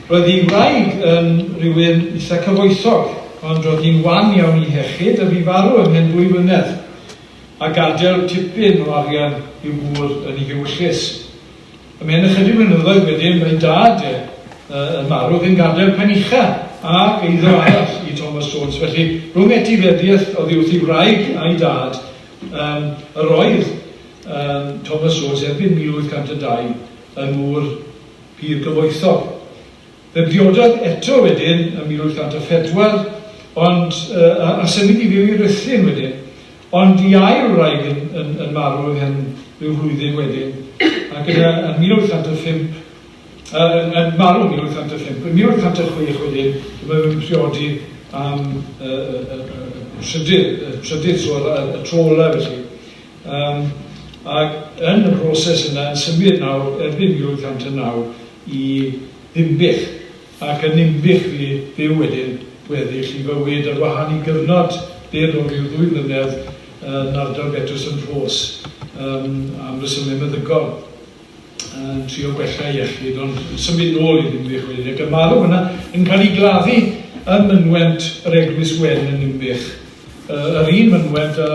Roedd ei wraig yn rhywun eitha cyfoethog, ond roedd hi'n wan iawn i hechyd a fu farw ymhen dwy flynedd, a gadael tipyn o arian i'w gŵr yn ei hiwyllys. A mewn ychydig blynyddoedd wedyn mae dad e yn marw ac yn gadael pen ucha ac eiddo arall i Thomas Jones. Felly rhwng etifeddiaeth oddi wrth ei wraig a'i dad um, yr oedd um, Thomas Jones erbyn 1802 yn ŵr pur gyfoethog. Fe briododd eto wedyn ym 1804, ond, a a symud i fyw i Ruthyn wedyn, ond i ail wraig yn yn yn marw ymhen ryw flwyddyn wedyn, ac yna yn 1805, yy yn yn marw 1805, yn 1806 wedyn dyma fe'n priodi am y y y y y trydydd y trydydd tro, y y tro ola' felly. Yym, ac yn y broses yna yn symud nawr erbyn 1809 i Ddinbych, ac yn Ninbych fu byw wedyn gweddill ei fywyd, ar wahân i gyfnod byr o ryw ddwy flynedd yn ardal Betws-yn-Rhos, yym, am resymau meddygol. yn trio gwella iechyd ond yn symud nôl i Ddinbych wedyn ac yn marw yna yn cael ei gladdu ym mynwent yr Eglwys Wen yn Ninbych. Uh, yr un mynwent a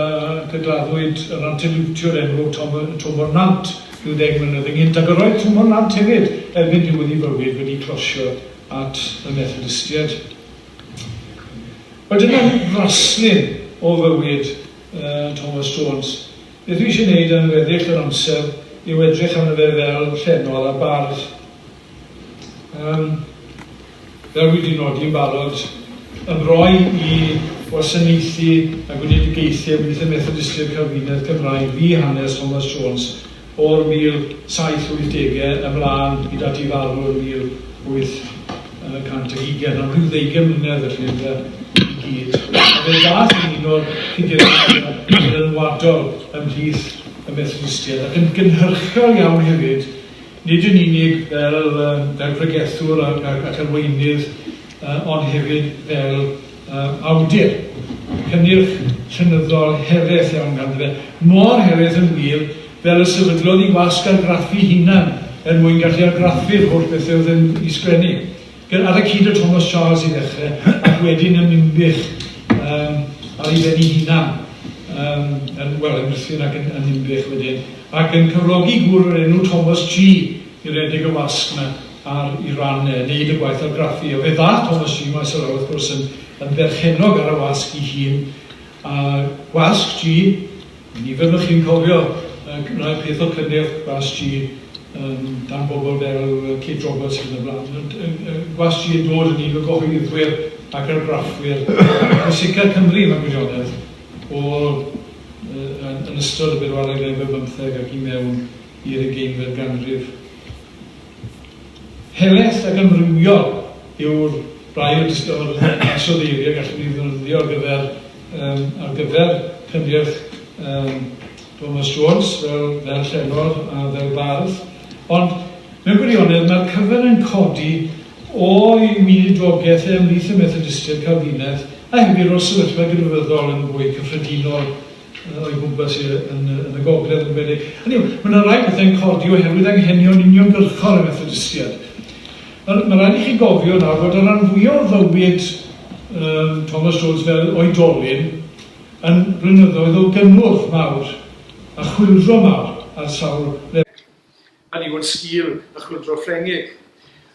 gydladdwyd yr anteliwtiwr enwog Tom, Twm o'r Nant rhyw ddeg mlynedd ynghynt ac yr oedd Twm o'r Nant hefyd erbyn diwedd ei fywyd wedi closio at y Methodistiaid. Wel dyna fraslun o fywyd uh, Thomas Jones. Beth fi isie neud am weddill yr amser yw edrych arno fe fel llenor a bardd. Yym, fel wi 'di nodi yn barod, ymroi i wasanaethu a gweledigaethu ym Mhwythyn Methodistiaid Calfinaidd Cymraeg fu hanes Thomas Jones o'r 1780au ymlân hyd at ei farw yn 1800. yn y 120 am rhyw ddeugen mlynedd felly yn y gyd. Fe ddath yn un o'r cydiriadau rynwadol ymhlith y Methodistiaid ac yn gynhyrchiol iawn hefyd, nid yn unig fel, fel pregethwr ac, ac, ac arweinydd, ond hefyd fel awdur, cynnyrch llenyddol heredd iawn ganddo fe, mor heredd yn wir fel y sefydlodd i wasg argraffu'i hunan er mwyn gallu argraffu'r holl bethe oedd yn i sgwennu, gy-, ar y cyd â Thomas Charles i ddechre, ac wedyn yn Ninbych yym ar ei ben ei hunan, yym yn, wel, yn Ruthun ac yn yn Ninbych wedyn, ac yn cyflogi gŵr o'r enw Thomas G i redeg y wasg 'na. ar i ran e wneud y gwaith argraffu a fe ddaeth Thomas G. Maes o law wrth gwrs yn yn berchennog ar y wasg i hun a gwasg G nifer o'ch chi'n cofio y gwnaeth peth o cynnyrch gwas G um, dan bobl fel Kate Roberts yn y blaen yn, yn, yn, gwas G yn dod yn un o gyhoeddwyr ac argraffwyr pwysica Cymru mewn gwirionedd o yn, yn ystod y bedwaredd efo bymtheg ac i mewn i'r ugeinfed ganrif. Helaeth ac amrywiol yw'r rai o dystiolaeth ansoddeiriau y gallwn ni ddefnyddio ar gyfer um, ar gyfer cyngerdd um, Thomas Jones fel, fel llenor a fel bardd. Ond mewn gwirionedd mae'r cyfer yn codi o'i weinidrogaeth e ymhlith y Methodistiaid Calfinedd a hefyd o'r sefyllfa gynryfyddol yn fwy cyffredinol o'i gwmpas e yn y, yn y gogledd yn gwedig. Hynny yw, mae yna rai pethau'n codi oherwydd anghenion uniongyrchol y Methodistiaid. Mae, mae rhaid i chi gofio nawr fod y rhan fwyaf o fywyd um, Thomas Jones fel oedolyn yn blynyddoedd o gynnwrf mawr a chwildro mawr ar sawl lefel. Hynny yw, yn sgil y Chwyldro Ffrengig.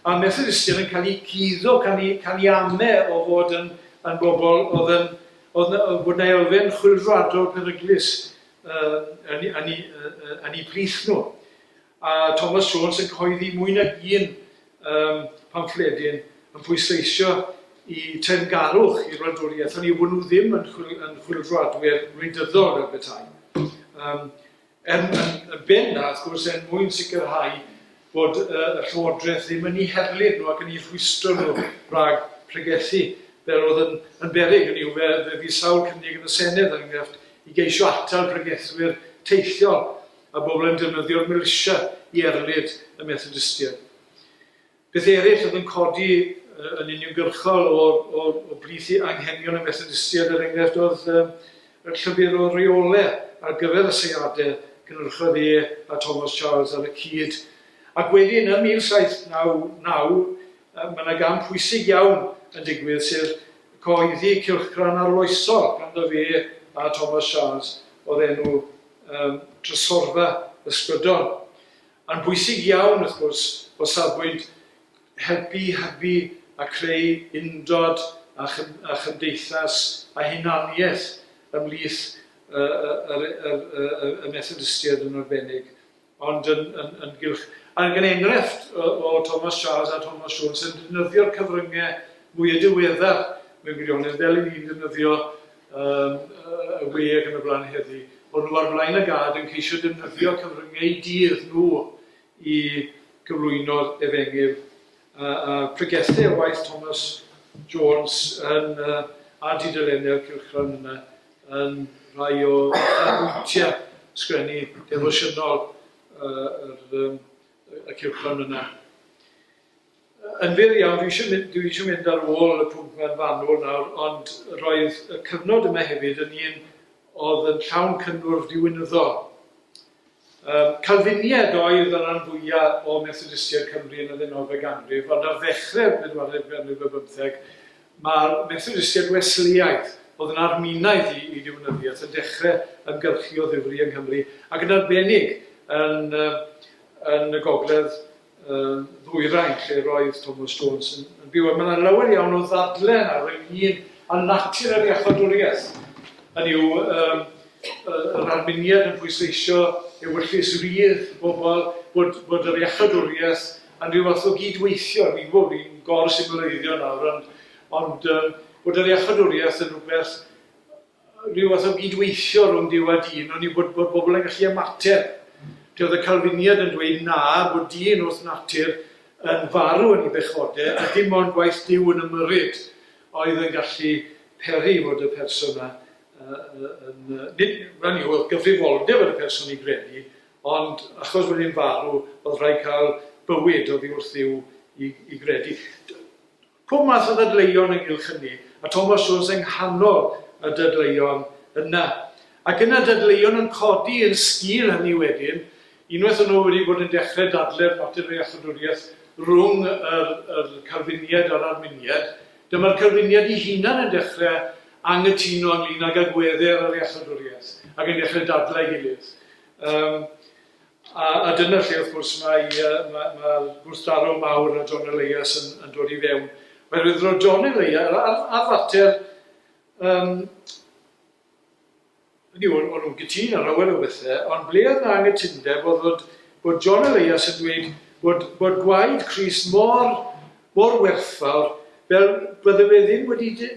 A'r Methodistiaid yn cael eu cuddo can i, can i ame o fod yn, yn bobl oedd yn, oedd na, fod na elfen chwildroadol peryglus uh, yn, yn, yn, yn, yn eu plith nhw. A Thomas Jones yn coeddi mwy nag un um, pamffledyn yn pwysleisio i teyrngarwch i'r wladwriaeth, hynny yw bod nhw ddim yn, chwil, yn chwildroadwyr wleidyddol fel petai. Um, Yn benna, wrth gwrs, er mwyn sicrhau bod y Llywodraeth ddim yn eu herlid nhw ac yn eu rhwystro nhw rhag pregethu, fel oedd yn, yn beryg, hynny yw, fe, fe fydd sawl cynnig yn y Senedd, er enghraifft, i geisio atal pregethwyr teithiol a bobl yn defnyddio'r milisia i erlid y Methodistiaid. Beth eraill oedd yn codi yn uniongyrchol o o o blith i anghenion y Methodistiaid, er enghraifft, oedd yym y llyfr o reole ar gyfer y seiade, cynhyrchodd e a Thomas Charles ar y cyd. Ac wedyn ym 1799 yy ma' 'na gam pwysig iawn yn digwydd, sef cyhoeddi cylchgrawn arloesol ganddo fe a Thomas Charles o'r enw yym Trysorfa Ysbrydol. Mae'n bwysig iawn, wrth gwrs, o safbwynt helpu i hybu a creu undod a chymdeithas a hunaniaeth ymhlith y Methodistiaid yn arbennig, ond yn gylch. A gan enghraifft o Thomas Charles a Thomas Jones yn defnyddio'r cyfryngau mwya' diweddar mewn gwirionedd, fel 'y ni'n defnyddio yn y we ac yn y blaen heddi, bod nhw ar flaen y gad yn ceisio defnyddio cyfryngau dydd nhw i gyflwyno Efengyl, a a pregethai o waith Thomas Jones yn yy ar dudalennau'r cylchgrawn yna yn rhai o ganmwyntiau sgwennu defosiynol yy yr yym y cylchgrawn yna. Yn wir iawn, dwi eisiau mynd, dwi eisiau mynd ar ôl y pwnc ma'n fanwl nawr, ond roedd y cyfnod yma hefyd yn un oedd yn llawn cynnwrf diwinyddol. Um, Calfiniaid oedd y rhan fwyaf o Methodistiaid Cymru yn y ddeunawfed ganrif, ond ar ddechrau'r bedwaredd ganrif ar bymtheg, mae'r Methodistiaid Wesleaidd, oedd yn arminaidd i, i diwinyddiaeth, yn dechrau ymgyrchu o ddifri yng Nghymru, ac yn arbennig yn, yn y gogledd yn ddwyrain lle roedd Thomas Jones yn, yn byw. Mae yna lawer iawn o ddadlen ar ynglyn a natur yr iachadwriaeth. Hynny yw, um, yr arminiad yn pwysleisio ewyllys rydd bobl, bod, bod yr iachadwriaeth yn rhyw fath o gydweithio. Fi'n gwybod fi'n gor symleiddio nawr, ond, ond um, bod yr iachadwriaeth yn rhywbeth rhyw fath o gyd-weithio rhwng Duw a dyn, oni bod bod pobl yn gallu ymateb. Lle oedd y Calfiniad yn dweud na, bod dyn wrth natur yn farw yn ei bechode, a dim ond gwaith Duw yn ymyrryd oedd yn gallu peri fod y person yna yn, nid, hynny yw, oedd gyfrifoldeb ar y person i gredu, ond achos bod e'n farw, oedd rhaid cael bywyd oddi wrth Dduw i, i gredu. Pob math o ddadleuon ynghylch hynny, a Thomas Jones yng nghanol y dadleuon yna. Ac yna dadleuon yn codi yn sgil hynny wedyn, unwaith o'n nhw wedi bod yn dechrau dadlau'r mater o iachawdwriaeth rhwng yr yr Calfiniaid a'r Arminiaid, dyma'r Calfiniaid i hunan yn dechrau anghytuno ynglyn ag agweddau ar yr iachawdwriaeth ac yn dechrau dadlau ei gilydd. Yym. A, a dyna lle wrth gwrs mae yy ma' ma'r gwrthdaro mawr a John Elias yn yn dod i fewn. Oherwydd roedd John Elias ar ar ar fater yym hynny yw o'n o'n nhw'n gytûn ar lawer o bethe, ond ble oedd 'na anghytundeb oedd fod bod John Elias yn dweud bod bod gwaed Chris mor mor werthfawr fel bydde fe ddim wedi dy-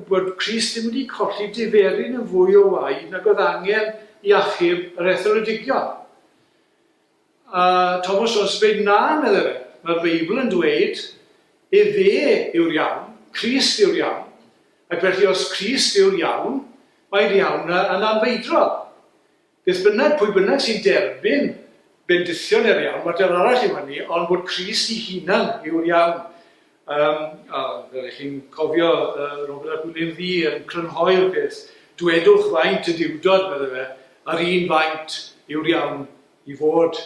bod Crist ddim wedi colli diferyn yn fwy o waed nag oedd angen i achub yr etholedigion. A Thomas Jones yn dweud, na, meddai fe, mae'r Beibl yn dweud, efe yw'r iawn, Crist yw'r iawn, ac felly os Crist yw'r iawn, mae'r iawn yn anfeidrol. Beth bynnag, pwy bynnag sy'n derbyn bendithion er iawn, mater arall yw hynny, ond bod Crist i hunan yw'r iawn. Um, a fel ych chi'n cofio, uh, Robert a Gwilym Ddi yn crynhoi'r peth, dwedwch faint y diwdod, meddai fe, a'r un faint yw'r iawn i fod.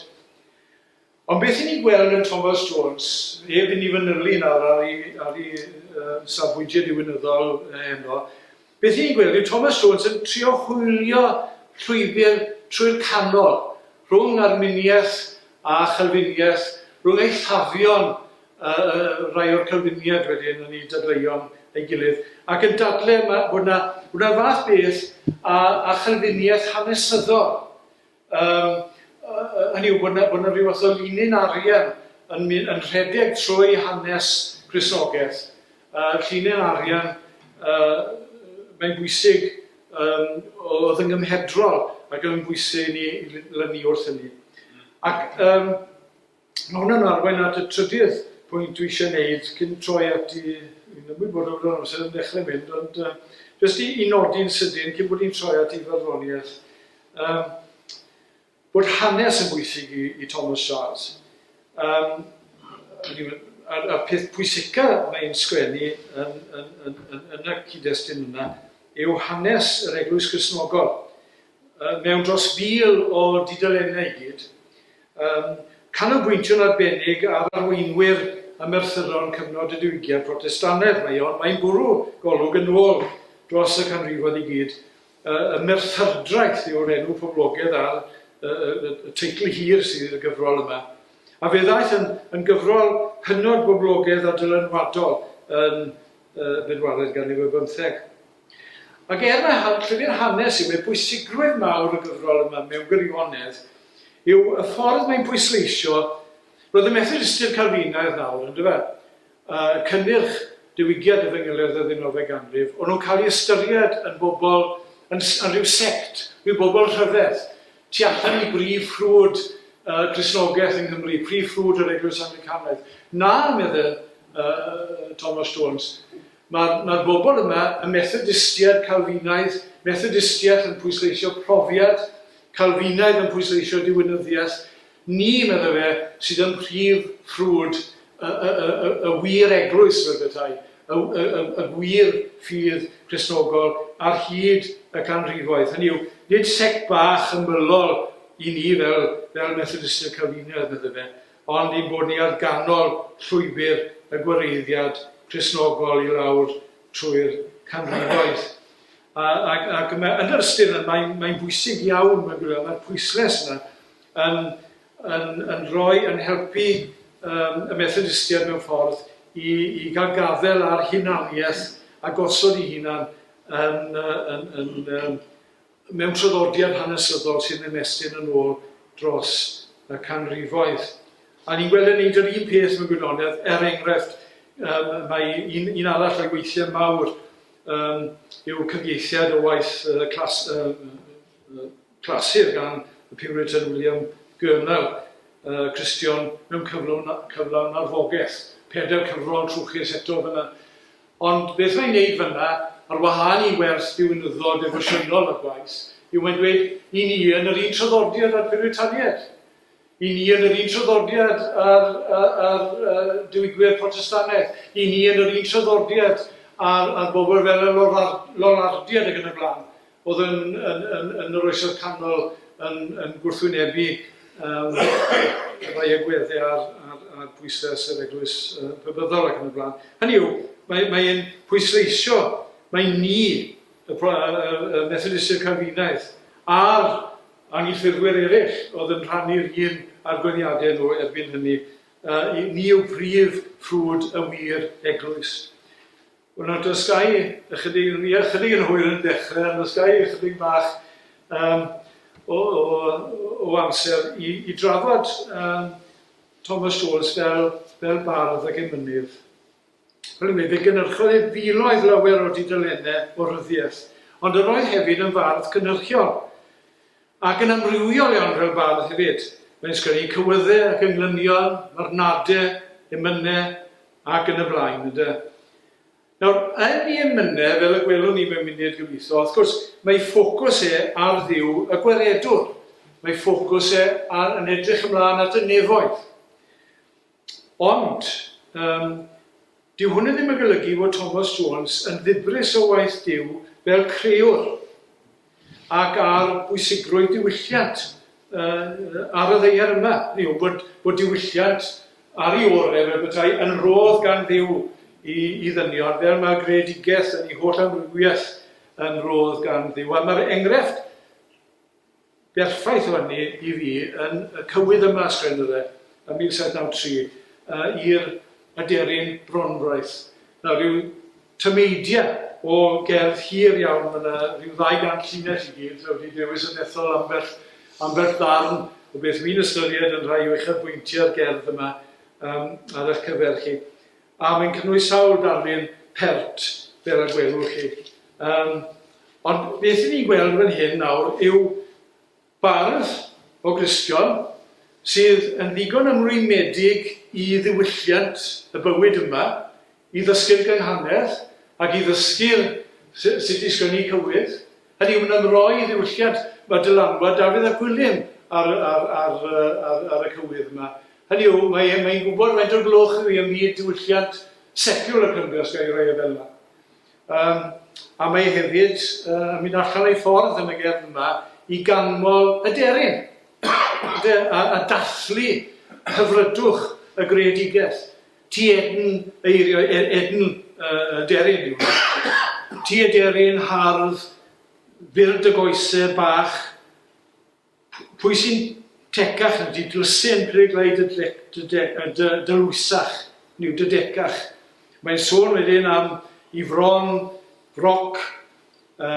Ond beth i ni gweld yn Thomas Jones, heb i ni fanylu nawr ar ei, ar ei uh, safbwyntiau diwinyddol heno, beth i ni'n gweld yw Thomas Jones yn trio hwylio llwybr trwy'r canol rhwng arminiaeth a chalfiniaeth, rhwng eithafion uh, rai o'r calfiniad wedyn yn ei dadleuon ei gilydd, ac yn dadle bod yna, bod yna fath beth a, a chalfiniaeth hanesyddol Yym, hynny yw bod 'na bod 'na ryw fath o linyn arian yn myn- yn rhedeg trwy hanes Crisnogaeth. Yy llinyn arian yy mae'n bwysig yym o'dd yn gymhedrol ac yn bwysig i ni i l- lynu wrth hynny. Ac yym Mae hwn yn arwain at y trydydd pwynt dwi eisiau wneud cyn troi at i fi'n ymwybodol bod yr amser yn dechrau mynd, ond uh, jyst i, i nodi'n sydyn cyn bod ni'n troi at i farddoniaeth, um, bod hanes yn bwysig i, i Thomas Charles. Um, a'r, ar peth pwysica mae'n sgwennu yn, yn, yn, yn, yn y cyd-destun yna yw hanes yr Eglwys Gristnogol. mewn dros fil o dudalennau i gyd, yn canolbwyntio'n arbennig ar arweinwyr a merthyron cyfnod y Diwygiad Protestannedd. Mae o'n, mae'n bwrw golwg yn ôl dros y canrifoedd i gyd. Y Merthyrdraeth yw'r enw poblogedd ar y teitl hir sydd i'r gyfrol yma. A fe ddaeth yn, yn gyfrol hynod boblogedd a dylanwadol yn y bedwaredd ganrif ar bymtheg. Ac er na all llyfr hanes ddim ei bwysigrwydd mawr y gyfrol yma mewn gwirionedd yw y ffordd mae'n pwysleisio, roedd y Methodistiaid Calfinaidd nawr, yn dyfe? y cynnyrch diwygiad y fengeledd y ddeunawfed ganrif, o'n nhw'n cael ei ystyried yn bobl, yn, yn rhyw sect, rhyw bobl rhyfedd, tu allan i brif ffrwd y Cristnogaeth yng Nghymru, prif ffrwd yr Eglwys Anglicanaidd. Na, meddai uh, Thomas Jones, Mae'r mae'r bobl yma, y Methodistiaid, Calfinaidd, Methodistiaeth yn pwysleisio profiad, Calfinaidd yn pwysleisio diwinyddiaeth, ni, medda fe, sydd ym mhrif ffrwd y, y, y, y, y wir eglwys, fel petai, y, y, y, y gwir ffydd Cristnogol ar hyd y canrifoedd. Hynny yw, nid sect bach ymylol i ni fel, fel Methodistiaid Calfinaidd, medda fe, ond ein bod ni ar ganol llwybr y gwareiddiad Cristnogol i lawr trwy'r canrifoedd. A, ac, ac yn yr ystyr yna, mae'n mae bwysig iawn, mae'n gwybod, mae'r pwysles yna yn, yn, yn rhoi, yn helpu um, y Methodistiaid mewn ffordd i, i gael gafel ar hunaniaeth a gosod i hunan yn, yn, yn, yn, Mewn traddodiad hanesyddol sy'n ymestyn yn ôl dros y canrifoedd. A ni'n gweld yn neud yr un peth mewn gwirionedd, er enghraifft, um, mae un, un arall o'i weithiau mawr um, yw cyfieithiad o waith uh, clas, uh, uh, clasur gan y Puritan William Gurnall, uh, Cristion mewn cyflawn, cyflawn arfogaeth. Pedair cyfrol trwchus eto fyna. Ond beth mae'n wneud fan'na, ar wahân i wers ddiwinyddol defosiynol ar gwaith, yw mae'n dweud, 'Y ni yn yr un traddodiad â'r Piwritaniaid. Y ni yn yr un traddodiad â'r â'r Diwygwyr Protestannaidd. Y ni yn yr un traddodiad â'r â'r bobl fel y Lollardiaid ac yn y blaen. oedd yn, yn, yn, yn yr Oesoedd Canol yn, yn gwrthwynebu um, rhai agweddau ar, ar, ar bwysau yr eglwys uh, bybyddol ac yn y blaen. Hynny yw, mae'n mae pwysleisio, mae ni, y, y, y Methodistiaid Calfinaidd, a'r anghyffurfwyr eraill oedd yn rhannu'r un argwyddiadau nhw erbyn hynny, uh, ni yw prif ffrwd y wir eglwys. Wel nawr dysgai ychydig, ni ychydig yn hwyr yn dechrau, ond dysgai ychydig bach um, o, o, o amser i, i drafod um, Thomas Jones fel, fel bardd ac emynydd. Fel mi, fe gynnyrchodd ei filoedd lawer o dudalennau o ryddiaeth, ond yr oedd hefyd yn fardd cynnyrchiol. Ac yn amrywiol iawn fel bardd hefyd. Mae'n sgwennu cywyddau ac englynion, marwnadau, emynau ac yn y blaen, ynde. Nawr, yn ei emynau, fel y gwelwn ni mewn munud gobeithio, wrth gwrs, mae ei ffocws e ar Dduw y Gwaredwr. Mae ei ffocws e ar yn edrych ymlaen at y nefoedd. Ond, yym, dyw hwnne ddim yn golygu fod Tomos Jones yn ddibris o waith Duw fel creüwr ac ar bwysigrwydd diwylliant ar y ddaear yma, hynny yw, bod bod diwylliant ar ei ore' fel petai yn rhodd gan Dduw i i ddynion, fel mae'r greadigaeth yn ei holl amrywiaeth yn rhodd gan Dduw. A mae'r engrefft Berffaith o hynny i fi yn y cywydd yma, ysgrifennodd e, ym 1793, i'r aderyn Bronfraith. Nawr, ryw tameidiau o gerdd hir iawn, mae 'na ryw ddau gant llinell i gyd, a wedi dewis yn ethol ambell, ambell ddarn o beth wi'n ystyried yn rhai o uchafbwyntiau'r gerdd yma, yym, ar eich cyfer chi. A mae'n cynnwys sawl darlun pert, fel y gwelwch chi. Um, ond beth i ni'n gweld fan hyn nawr yw bardd o Gristion sydd yn ddigon ymrwymedig i ddiwylliant y bywyd yma, i ddysgu'r gynghanedd ac i ddysgu'r sut i sgynnu cywydd, Hynny yw, mae'n ymroi i ddiwylliant. Mae dylanwad Dafydd a Gwilym ar y, ar, ar, ar, ar y cywydd yma. Hynny yw, mae e'n mae e gwybod faint o glwch yw hi ym myd diwylliant seciwlar Cymru, os gael ei roi e fel yna. Um, a mae e hefyd uh, yn mynd allan o'i ffordd yn y gerdd yma i ganmol y deryn a, a dathlu hyfrydwch y greadigaeth. Ti edn eiriau er edn y deryn yw e. Ti y deryn hardd byr dy goese bach Pwy sy'n tecach na ti dlysen peryglai dy dlwysach neu dy decach Mae'n sôn wedyn am i fron froc y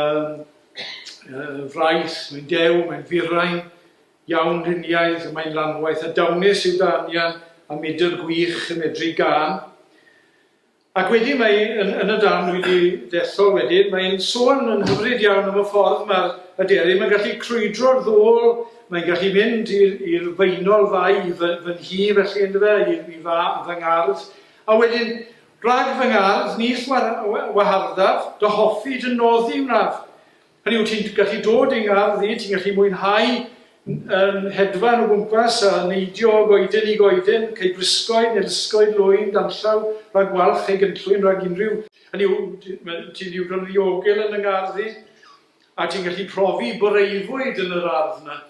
fraith Mae'n dew, mae'n firain Iawn Rhiniaidd, mae'n lanwaith a dawnus yw dy anian a mudr gwych yn medru gân. Ac wedyn mae yn, yn y darn dwi wedi dethol wedyn, mae'n sôn yn hyfryd iawn am y ffordd mae'r aderyn, mae'n gallu crwydro'r ddôl, mae'n gallu mynd i'r feinol fai i fy, fy nhi felly yn dyfe, i, i fa, fy ngardd. A wedyn, rhag fy ngardd, ni llwar waharddaf, dy hoffi, dy noddi wnaf. Hynny yw, ti'n gallu dod i'n ngardd i, ti'n gallu mwynhau yn hedfan o gwmpas a neidio o goeden i goeden, cei brysgod neu lysgod lwyn danllaw rhag walch ei gynllwyn rhag unrhyw, hynny yw, ti'n ddigon ddiogel yn y ngardd i, a ti'n gallu profi boreufwyd yn yr ardd 'na.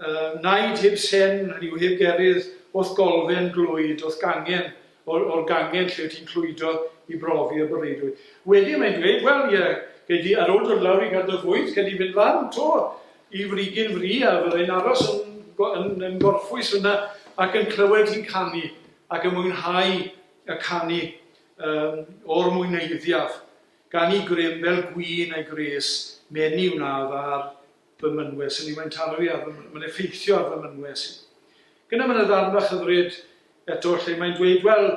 Yy, naid heb sen, hynny yw, heb gerydd, o'th golfen glwyd, o'th gangen, o'r, o'r gangen lle ti'n clwydo i brofi y bereidrwydd. Wedyn mae'n dweud, wel, ie, gei di, ar ôl dod lawr i Gaernarfwyd, gei di fynd lan to i Frigyn Fri, a fyddai'n aros yn, yn, yn gorffwys fyna, ac yn clywed hi'n canu, ac yn mwynhau y canu um, o'r mwyneiddiaf, gan i grym fel gwyn a'i gres, meni wnaf ar fy mynwes yn i, mae'n taro fi ar fy, mae'n effeithio ar fy mynwes i. Ac yna mae yna ddarn fach hyfryd eto lle mae'n dweud, wel,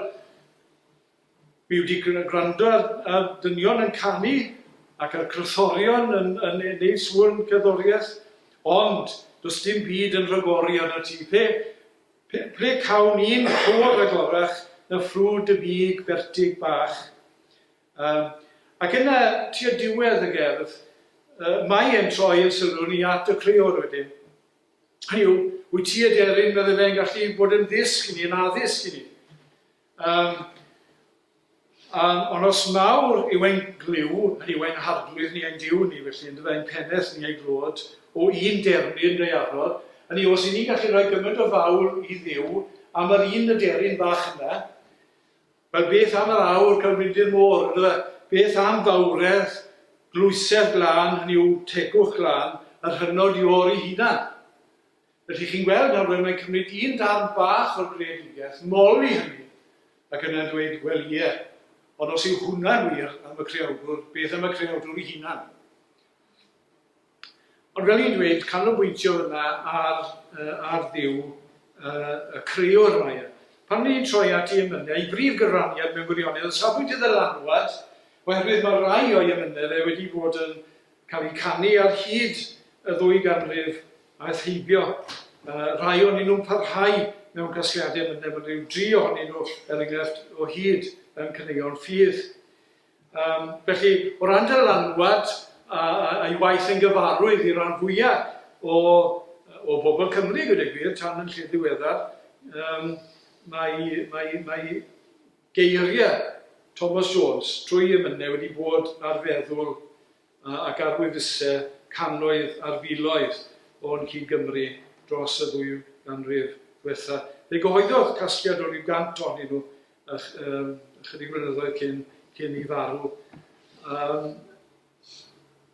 fi wedi gwrando ar, ar dynion yn canu ac ar crythorion yn, yn, yn neud sŵn cerddoriaeth, ond does dim byd yn rhagori arno ti. Pe, pe, ple cawn ni'n clywed rhagorach na ffrwd y big bertig bach. Yym, ac yna, tua diwedd y gerdd, yy, mae e'n troi ei sylw ni at y creor wedyn. Hynny yw, wyt ti aderyn, medde fe, yn gallu bod yn ddysg i ni, yn addysg i ni. Yym, um, ond os mawr yw ein glyw, hynny yw ein harglwydd ni, ein diw ni, felly, yn dyfa, ein peneth ni, ei glod, o un deryn gaearol, hynny yw, os i ni'n gallu rhoi gymaint o fawl i ddiw am yr un aderyn bach yna, Wel beth am yr aur celfyddyd môr, yndyfe? Beth am fawredd, dlwysedd glân, hynny yw, tegwch glân, yr hynod i ôr ei hunan? Felly, chi'n gweld, nawr, mae'n cymryd un darn bach o'r greadigaeth, moli hynny, ac yna dweud, Wel, ie, ond os yw hwnna'n wir am y Creawdwr, beth am y Creawdwr ei hunan? Ond fel i'n dweud, canolbwyntio yna ar ar Dduw, y Crëwr mae e. Pan ni'n troi at ei emyne, ei brif gyfraniad mewn gwirionedd, o safbwynt y ddylanwad, oherwydd mae rhai o'i emyne fe wedi bod yn cael eu canu ar hyd y ddwy ganrif aeth heibio, rhai o'nyn nhw'n parhau mewn casgliadau emyne, mae ryw dri ohonyn nhw, er enghraifft, o hyd yn caneuon ffydd. Yym, felly, o ran dylanwad a- a- a'i waith yn gyfarwydd i ran fwya' o o bobl Cymru, gweud y gwir, tan yn lle ddiweddar, yym, mae mae mae geiria' Thomas Jones trwy emyne wedi bod ar feddwl a- ac ar wefuse cannoedd ar filoedd o'n cyd-Gymry dros y ddwy ganrif ddwetha'. Fe gyhoeddodd casgliad o ryw gant ohonyn nhw yym ychydig flynyddoedd cyn cyn i farw. Um,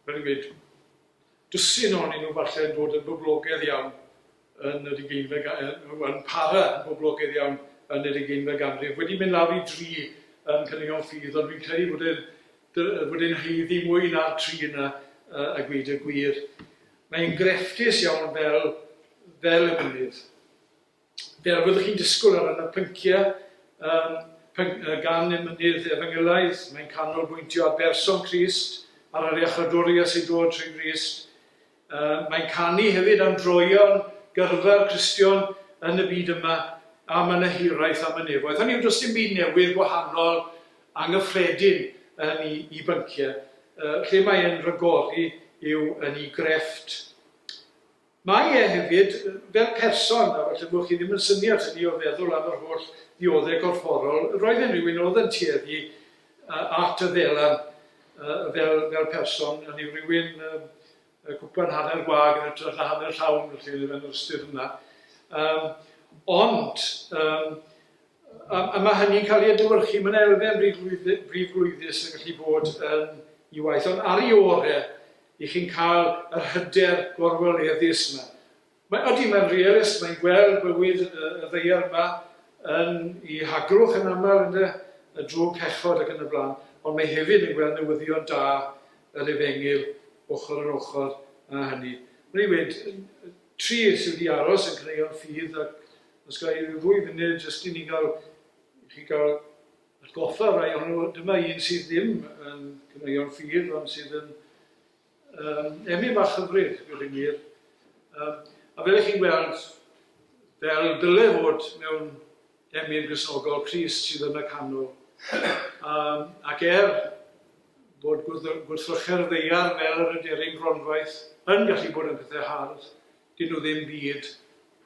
fel i gweud, dwsin o'n nhw falle yn dod yn boblogedd iawn yn yr ugeinfed ganrif, yn para yn boblogedd iawn yn yr ugeinfed ganrif. Wedi mynd lawr i dri yn Cynion Ffydd, ond fi'n credu bod e'n bod e'n heiddi mwy na'r tri yna uh, a gweud y gwir. Mae'n grefftus iawn fel, fel y mynydd. Be a fyddwch chi'n disgwyl ar ran y pynciau yym gan y Mynydd Efengylaidd? Mae'n canolbwyntio ar berson Crist, ar yr iachawdwriaeth sy'n dod trwy Grist. Yy mae'n canu hefyd am droeon gyrfa'r Cristion yn y byd yma, a mae 'na hiraeth am y nefoedd. Hynny yw, does dim byd newydd, wahanol, anghyffredin yn i i bynciau. Yy lle mae e'n rhagori yw yn i grefft Mae e hefyd, fel person, a falle bod chi ddim yn synnu at hynny o feddwl am yr holl ddioddau corfforol, roedd e'n rhywun oedd yn tueddu at y ddelan fel, fel person, hynny yw rhywun cwpan hanner gwag yn hytrach na hanner llawn, felly, yn yr ystyr yna. Ond, A mae hynny'n cael ei adlewyrchu, mae'n elfen brifglwyddus yn gallu bod yn ei waith, ond ar ei orau i chi'n cael yr hyder gorweleddus yma. Mae, ydy, mae'n realist, mae'n gweld bywyd y ddaear yma yn ei haglwch yn aml yn y, y drwg pechod ac yn y blaen, ond mae hefyd yn gweld newyddion da yr efengyl ochr yn ochr â hynny. Mae'n ei wneud tri sydd wedi aros yn caneuon ffydd ac Os ga i ddwy funud jyst i ni gael, i chi gael atgoffa rai ohonyn nhw, dyma un sydd ddim yn cyneuon ffydd, ond sydd yn um, emyn bach hyfryd, gwir i mir. Um, a fel ych chi'n gweld, fel dyle fod mewn emyn grisnogol Cris sydd yn y canol. Um, ac er bod gwrthrychau'r ddeiar fel yr yderin gronfaith yn gallu bod yn pethau hardd, 'Dyn nhw ddim byd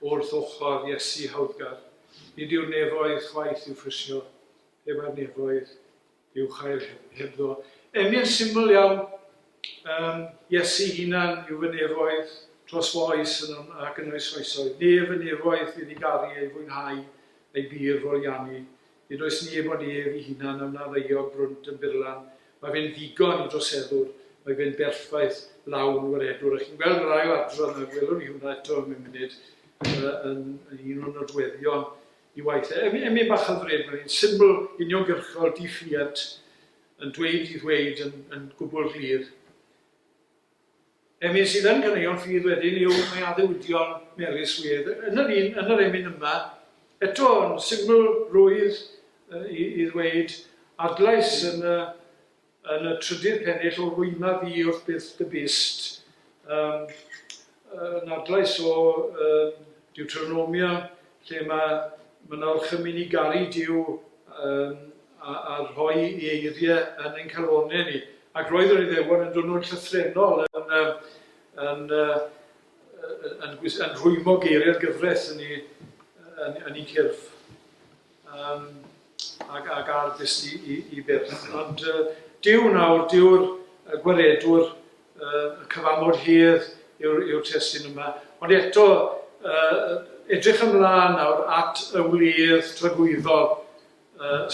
wrth ochr Iesu hawddgar. Nid yw'r nefoedd chwaith i'w phrisio, pe bai'r nefoedd i'w chael hebddo. Emyn syml iawn, um, Iesu hunan yw fy nefoedd tros fy oes yn un ac yn oes oesoedd, nef y nefoedd i ddigaru ei fwynhau ei bir folianu, Nid oes neb ond ef i hunan a wna ddaeog frwnt yn byrlan. Mae fe'n ddigon i droseddwr. Mae fe'n berffaith, lawn, waredwr, a chi'n gweld yr ail adran, a gwelwn ni hwnna eto mewn munud, yn un o'n nodweddion i waith. E, e, emyn bach hyfryd, mae'n un syml, uniongyrchol, di-ffiant, yn dweud i ddweud yn, yn gwbl glir. Emyn sydd yn caneuon ffydd wedyn yw Mae Addewidion Mary Swydd yn yr un, yn yr emyn yma, eto yn syml rwydd i i ddweud, adlais yn y yn y trydydd pennill o rwyma fi wrth byth dy bust, yym yn adlais o yym Deuteronomia lle mae Mynach yn mynd i garu Duw yym a a rhoi ei eirie yn ein calonne ni. Ac roedd yr Iddewon yn dwnnw'n llythrennol yn yym yn yy yn gwis- yn rhwymo geiriau'r gyfres yn ei yn yn ei cyrff yym ac ac ar fyst i i i byrth. Ond yy Duw nawr, Duw'r yy Gwaredwr, y cyfamod hir yw'r testun yma, ond eto edrych ymlaen nawr at y wledd tragwyddol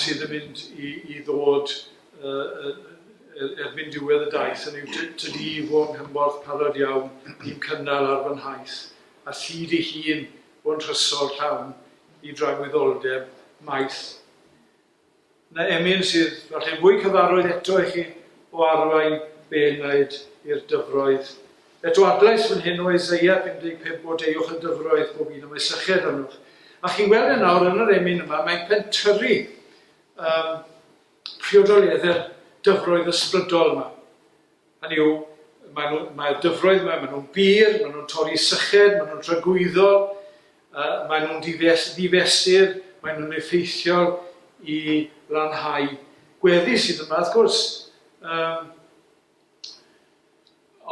sydd yn mynd i ddod erbyn diwedd y daith, hynny yw tydi fo yng nghymorth parod iawn i'n cynnal ar fy nhaith, a thid ei hun fo'n nhrysor llawn i dragwyddoldeb maith. Na emyn sydd falle fwy cyfarwydd eto i chi o arwain be wnaed i'r dyfroedd. Eto adlais fan hyn o Eseia 55 Blodeuwch y dyfroedd, bob un o mae sychedd arnoch. A chi'n gweld e nawr yn yr emyn yma, mae'n pentyrru um, priodoliaeth yr dyfroedd ysbrydol yma. Hynny yw, maen nhw, mae'r dyfroedd yma, maen nhw'n bur, maen nhw'n torri syched, maen nhw'n tragwyddol, uh, maen nhw'n ddifes, ddifesur, maen nhw'n effeithiol i lanhau gweddi sydd yma, wrth gwrs. Um,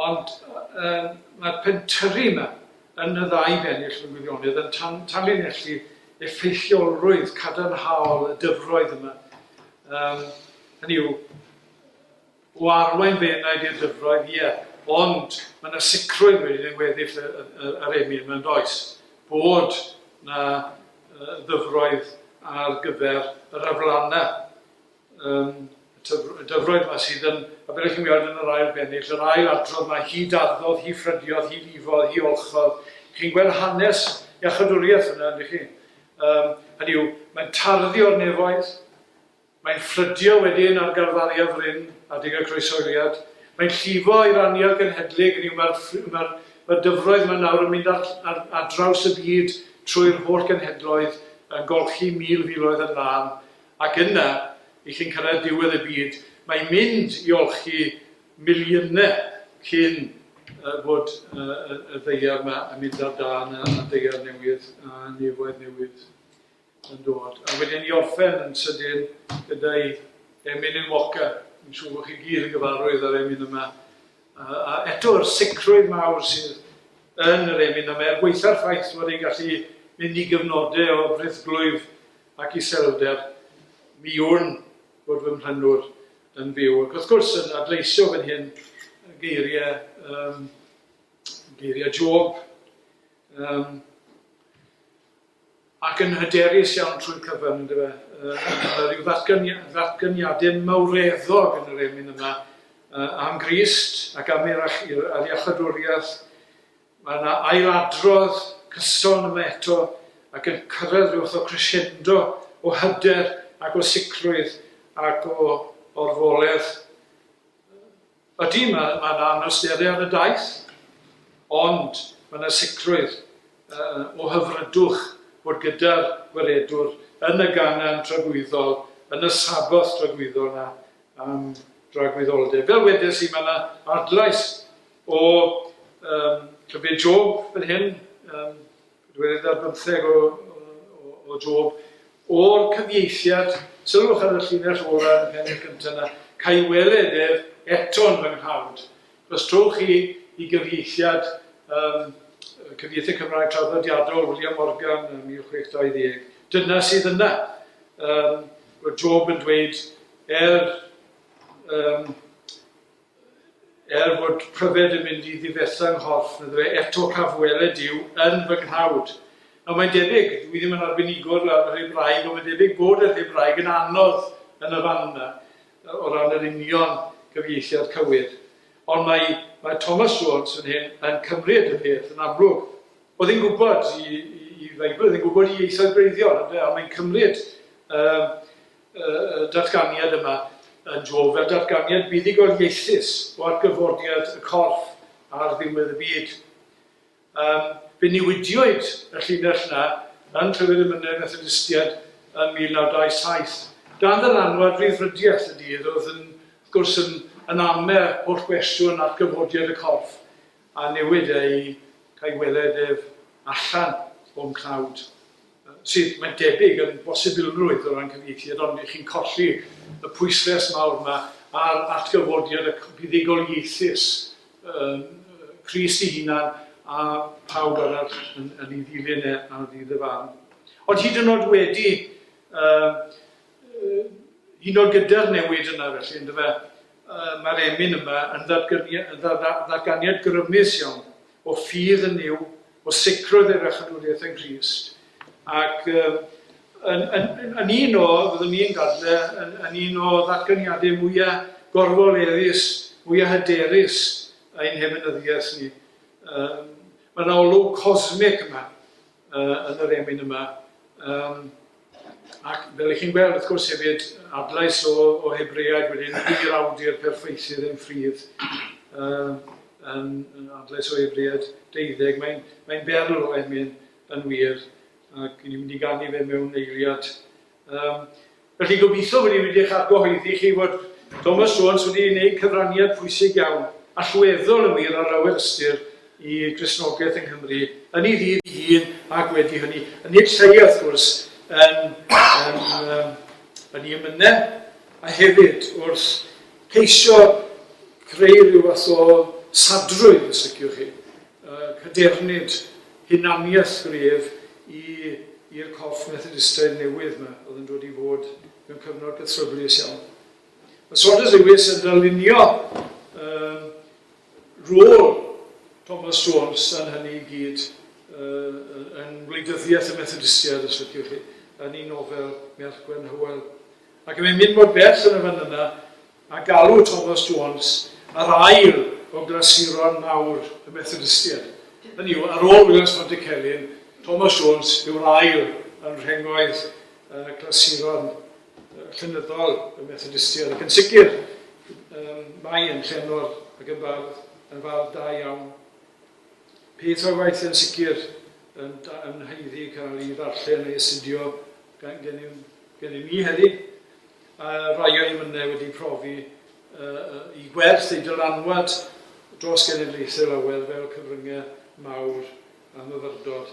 ond um, mae'r pentyrru yma yn y ddau bennill mewn gwirionedd yn tan, tanlinellu effeithiolrwydd cadarnhaol y dyfroedd yma. Um, hynny yw, o arwain fy enaid i'r dyfroedd, ie, ond mae 'na sicrwydd wedyn yn weddill yr emyn 'ma, yn does, bod 'na ddyfroedd ar gyfer yr aflannau, yym, y dyfroedd 'ma sydd yn, a fel 'ych chi'n weld yn yr ail bennill, yr ail adrodd 'ma, hi darddodd, hi ffrydiodd, hi lifodd, hi olchodd. Chi'n gweld hanes iachawdwriaeth yna, ydych chi? Yym, hynny yw, mae'n tarddu o'r nefoedd, Mae'n ffrydio wedyn ar garfariad ryn adeg y croeshoeliad. Mae'n llifo i'r anial genhedlig, hynny yw, mae'r mae'r mae'r dyfroedd yma nawr yn mynd ar ar ar draws y byd, trwy'r holl genhedloedd, yn golchi mil filoedd yn lân, ac yna, i chi'n cyrraedd diwedd y byd, mae'n mynd i olchi miliynau cyn yy bod yy y y ddaear yma yn mynd ar dân, a'r ddaear newydd, a'r nefoedd newydd. yn dod, a wedyn i orffen yn sydyn gyda'i emyn-yn walker, dwi'n siŵr bod chi gyd yn gyfarwydd â'r emyn yma, a, a eto yr sicrwydd mawr sydd yn yr emyn yma, er gweitha'r ffaith fod e'n gallu mynd i gyfnodau o frithglwyf ac iselder, mi wn fod fy mhlannwr yn fyw. Ac wrth gwrs, yn adleisio fan hyn geiriau, um, geiriau Job, um, ac yn hyderus iawn trwy'r cyfan, yndyfe. Yy, mae 'na ryw ddatgani- ddatganiadau mawreddog yn yr emyn yma yy, am Grist ac am yr ach- i'r yr iachawdwriaeth. Mae 'na ailadrodd cyson yma eto, ac yn cyrraedd ryw fath o crescendo o hyder ac o sicrwydd ac o orfoledd. Ydy, mae 'na anawsteriad y daeth, ond mae 'na sicrwydd o hyfrydwch fod gyda'r Gwaredwr yn y gangen dragwyddol, yn y Sabboth dragwyddol 'na am dragwyddoldeb. Fel wedes i, mae 'na adlais o Llyfr Job fan hyn, Roedd yna bymtheg o, o, o Job. O'r cyfieithiad, sylwch ar y llinell ola yn y pennill gyntaf yna, ca'i weled ef eto'n fy nghawd. Os trowch chi i gyfieithiad, um, cyfieithiad Cymraeg traddodiadol William Morgan yn 1620, dyna sydd yna. Um, Roedd Job yn dweud, er um, Er fod pryfed yn mynd i ddifetha 'nghorff, medda fe, eto caf weled Duw yn fy nghnawd. Nawr, mae'n debyg, dw i ddim yn arbenigwr ar yr Hebraeg, ond mae'n debyg bod yr Hebraeg yn anodd yn y fan yna, o ran yr union gyfieithiad cywir. Ond mae, mae Thomas Jones yn hyn yn cymryd y peth yn amlwg. Oedd e'n gwybod i, i, i Feibl, oedd e'n gwybod i ieithoedd gwreiddiol, ynde, ond mae'n cymryd, yy, y datganiad yma yn dro fel datganiad buddugoliaethus o atgyfodiad y corff ar ddiwedd y byd. Um, fe newidiwyd y llinell na yn Clefyd y Mynydd Methodistiaid yn 1927. Dan yr anwad ryddfrydiaeth y dydd oedd yn, wrth gwrs, yn, yn amer holl gwestiwn at gyfodiad y corff a newid ei cael weled ef allan o'n cnawd. sydd, mae'n debyg, yn bosibilrwydd o ran cyfieithiad, ond y'ch chi'n colli y pwysles mawr 'ma ar atgyfodiad y buddugol ieithus, yn Crist ei hunan a phawb arall yn, yn ei ddilyn e ar ddydd y farn. Ond hyd yn oed wedi, uh, hyd yn oed gyda'r newid yna felly, ynddo fe, uh, mae'r emyn yma yn ddatganiad grymus iawn o ffydd yn yw o sicrwydd ei fechadwriaeth yng Nghrist, ac yn, yn, yn un o, fyddwn ni'n dadle, yn, yn un o ddatganiadau mwyaf gorfoleddus, mwyaf hyderus ein heminyddiaeth ni. Um, Mae yna olwg cosmic yma uh, yn yr emyn yma. Um, Ac fel y'ch chi'n gweld, wrth gwrs, hefyd, adlais o, o Hebreaid wedyn, i'r awdur perffaithydd yn ffridd, uh, yn, yn adlais o Hebreaid deuddeg, mae'n mae berl o emyn yn wir, ac ni'n mynd i gannu fe mewn eiliad. Um, felly gobeithio wedi wedi eich argyhoeddi chi fod Thomas Jones wedi gwneud cyfraniad pwysig iawn, allweddol yn wir ar lawer ystyr, i Gristnogaeth yng Nghymru, yn ei ddydd ei hun ac wedi hynny, yn ei lle wrth gwrs, yn yn ei emyne, a hefyd wrth ceisio creu rhyw fath o sadrwydd, os liciwch chi, cadernid hunaniaeth gref i i'r corff Methodistaidd newydd 'ma oedd yn dod i fod mewn cyfnod cythryblus iawn. Mae Saunders Lewis yn darlunio Rôl Thomas Jones yn hynny i gyd, yn wleidyddiaeth y Methodistiaid, os liciwch chi, yn ei nofel Merch Gwen Hywel. Ac mae'n mynd mor bell yn y fan yna â galw Thomas Jones yr ail o glasuron mawr y Methodistiaid. Hynny yw, ar ôl Williams Pontycelyn, Thomas Jones yw'r ail yn rhengoedd y clasuron llenyddol y Methodistiaid, ac yn sicr mae yn llenor ac yn fardd, yn fardd da iawn. Peth o'i waith yn sicr yn, yn haeddu cael ei ddarllen a'i astudio gan gennym, gennym ni heddi. A rai o'n mynnau wedi profi uh, i gwerth ei dylanwad dros genedlaethau lawer fel cyfryngau mawr a myfyrdod.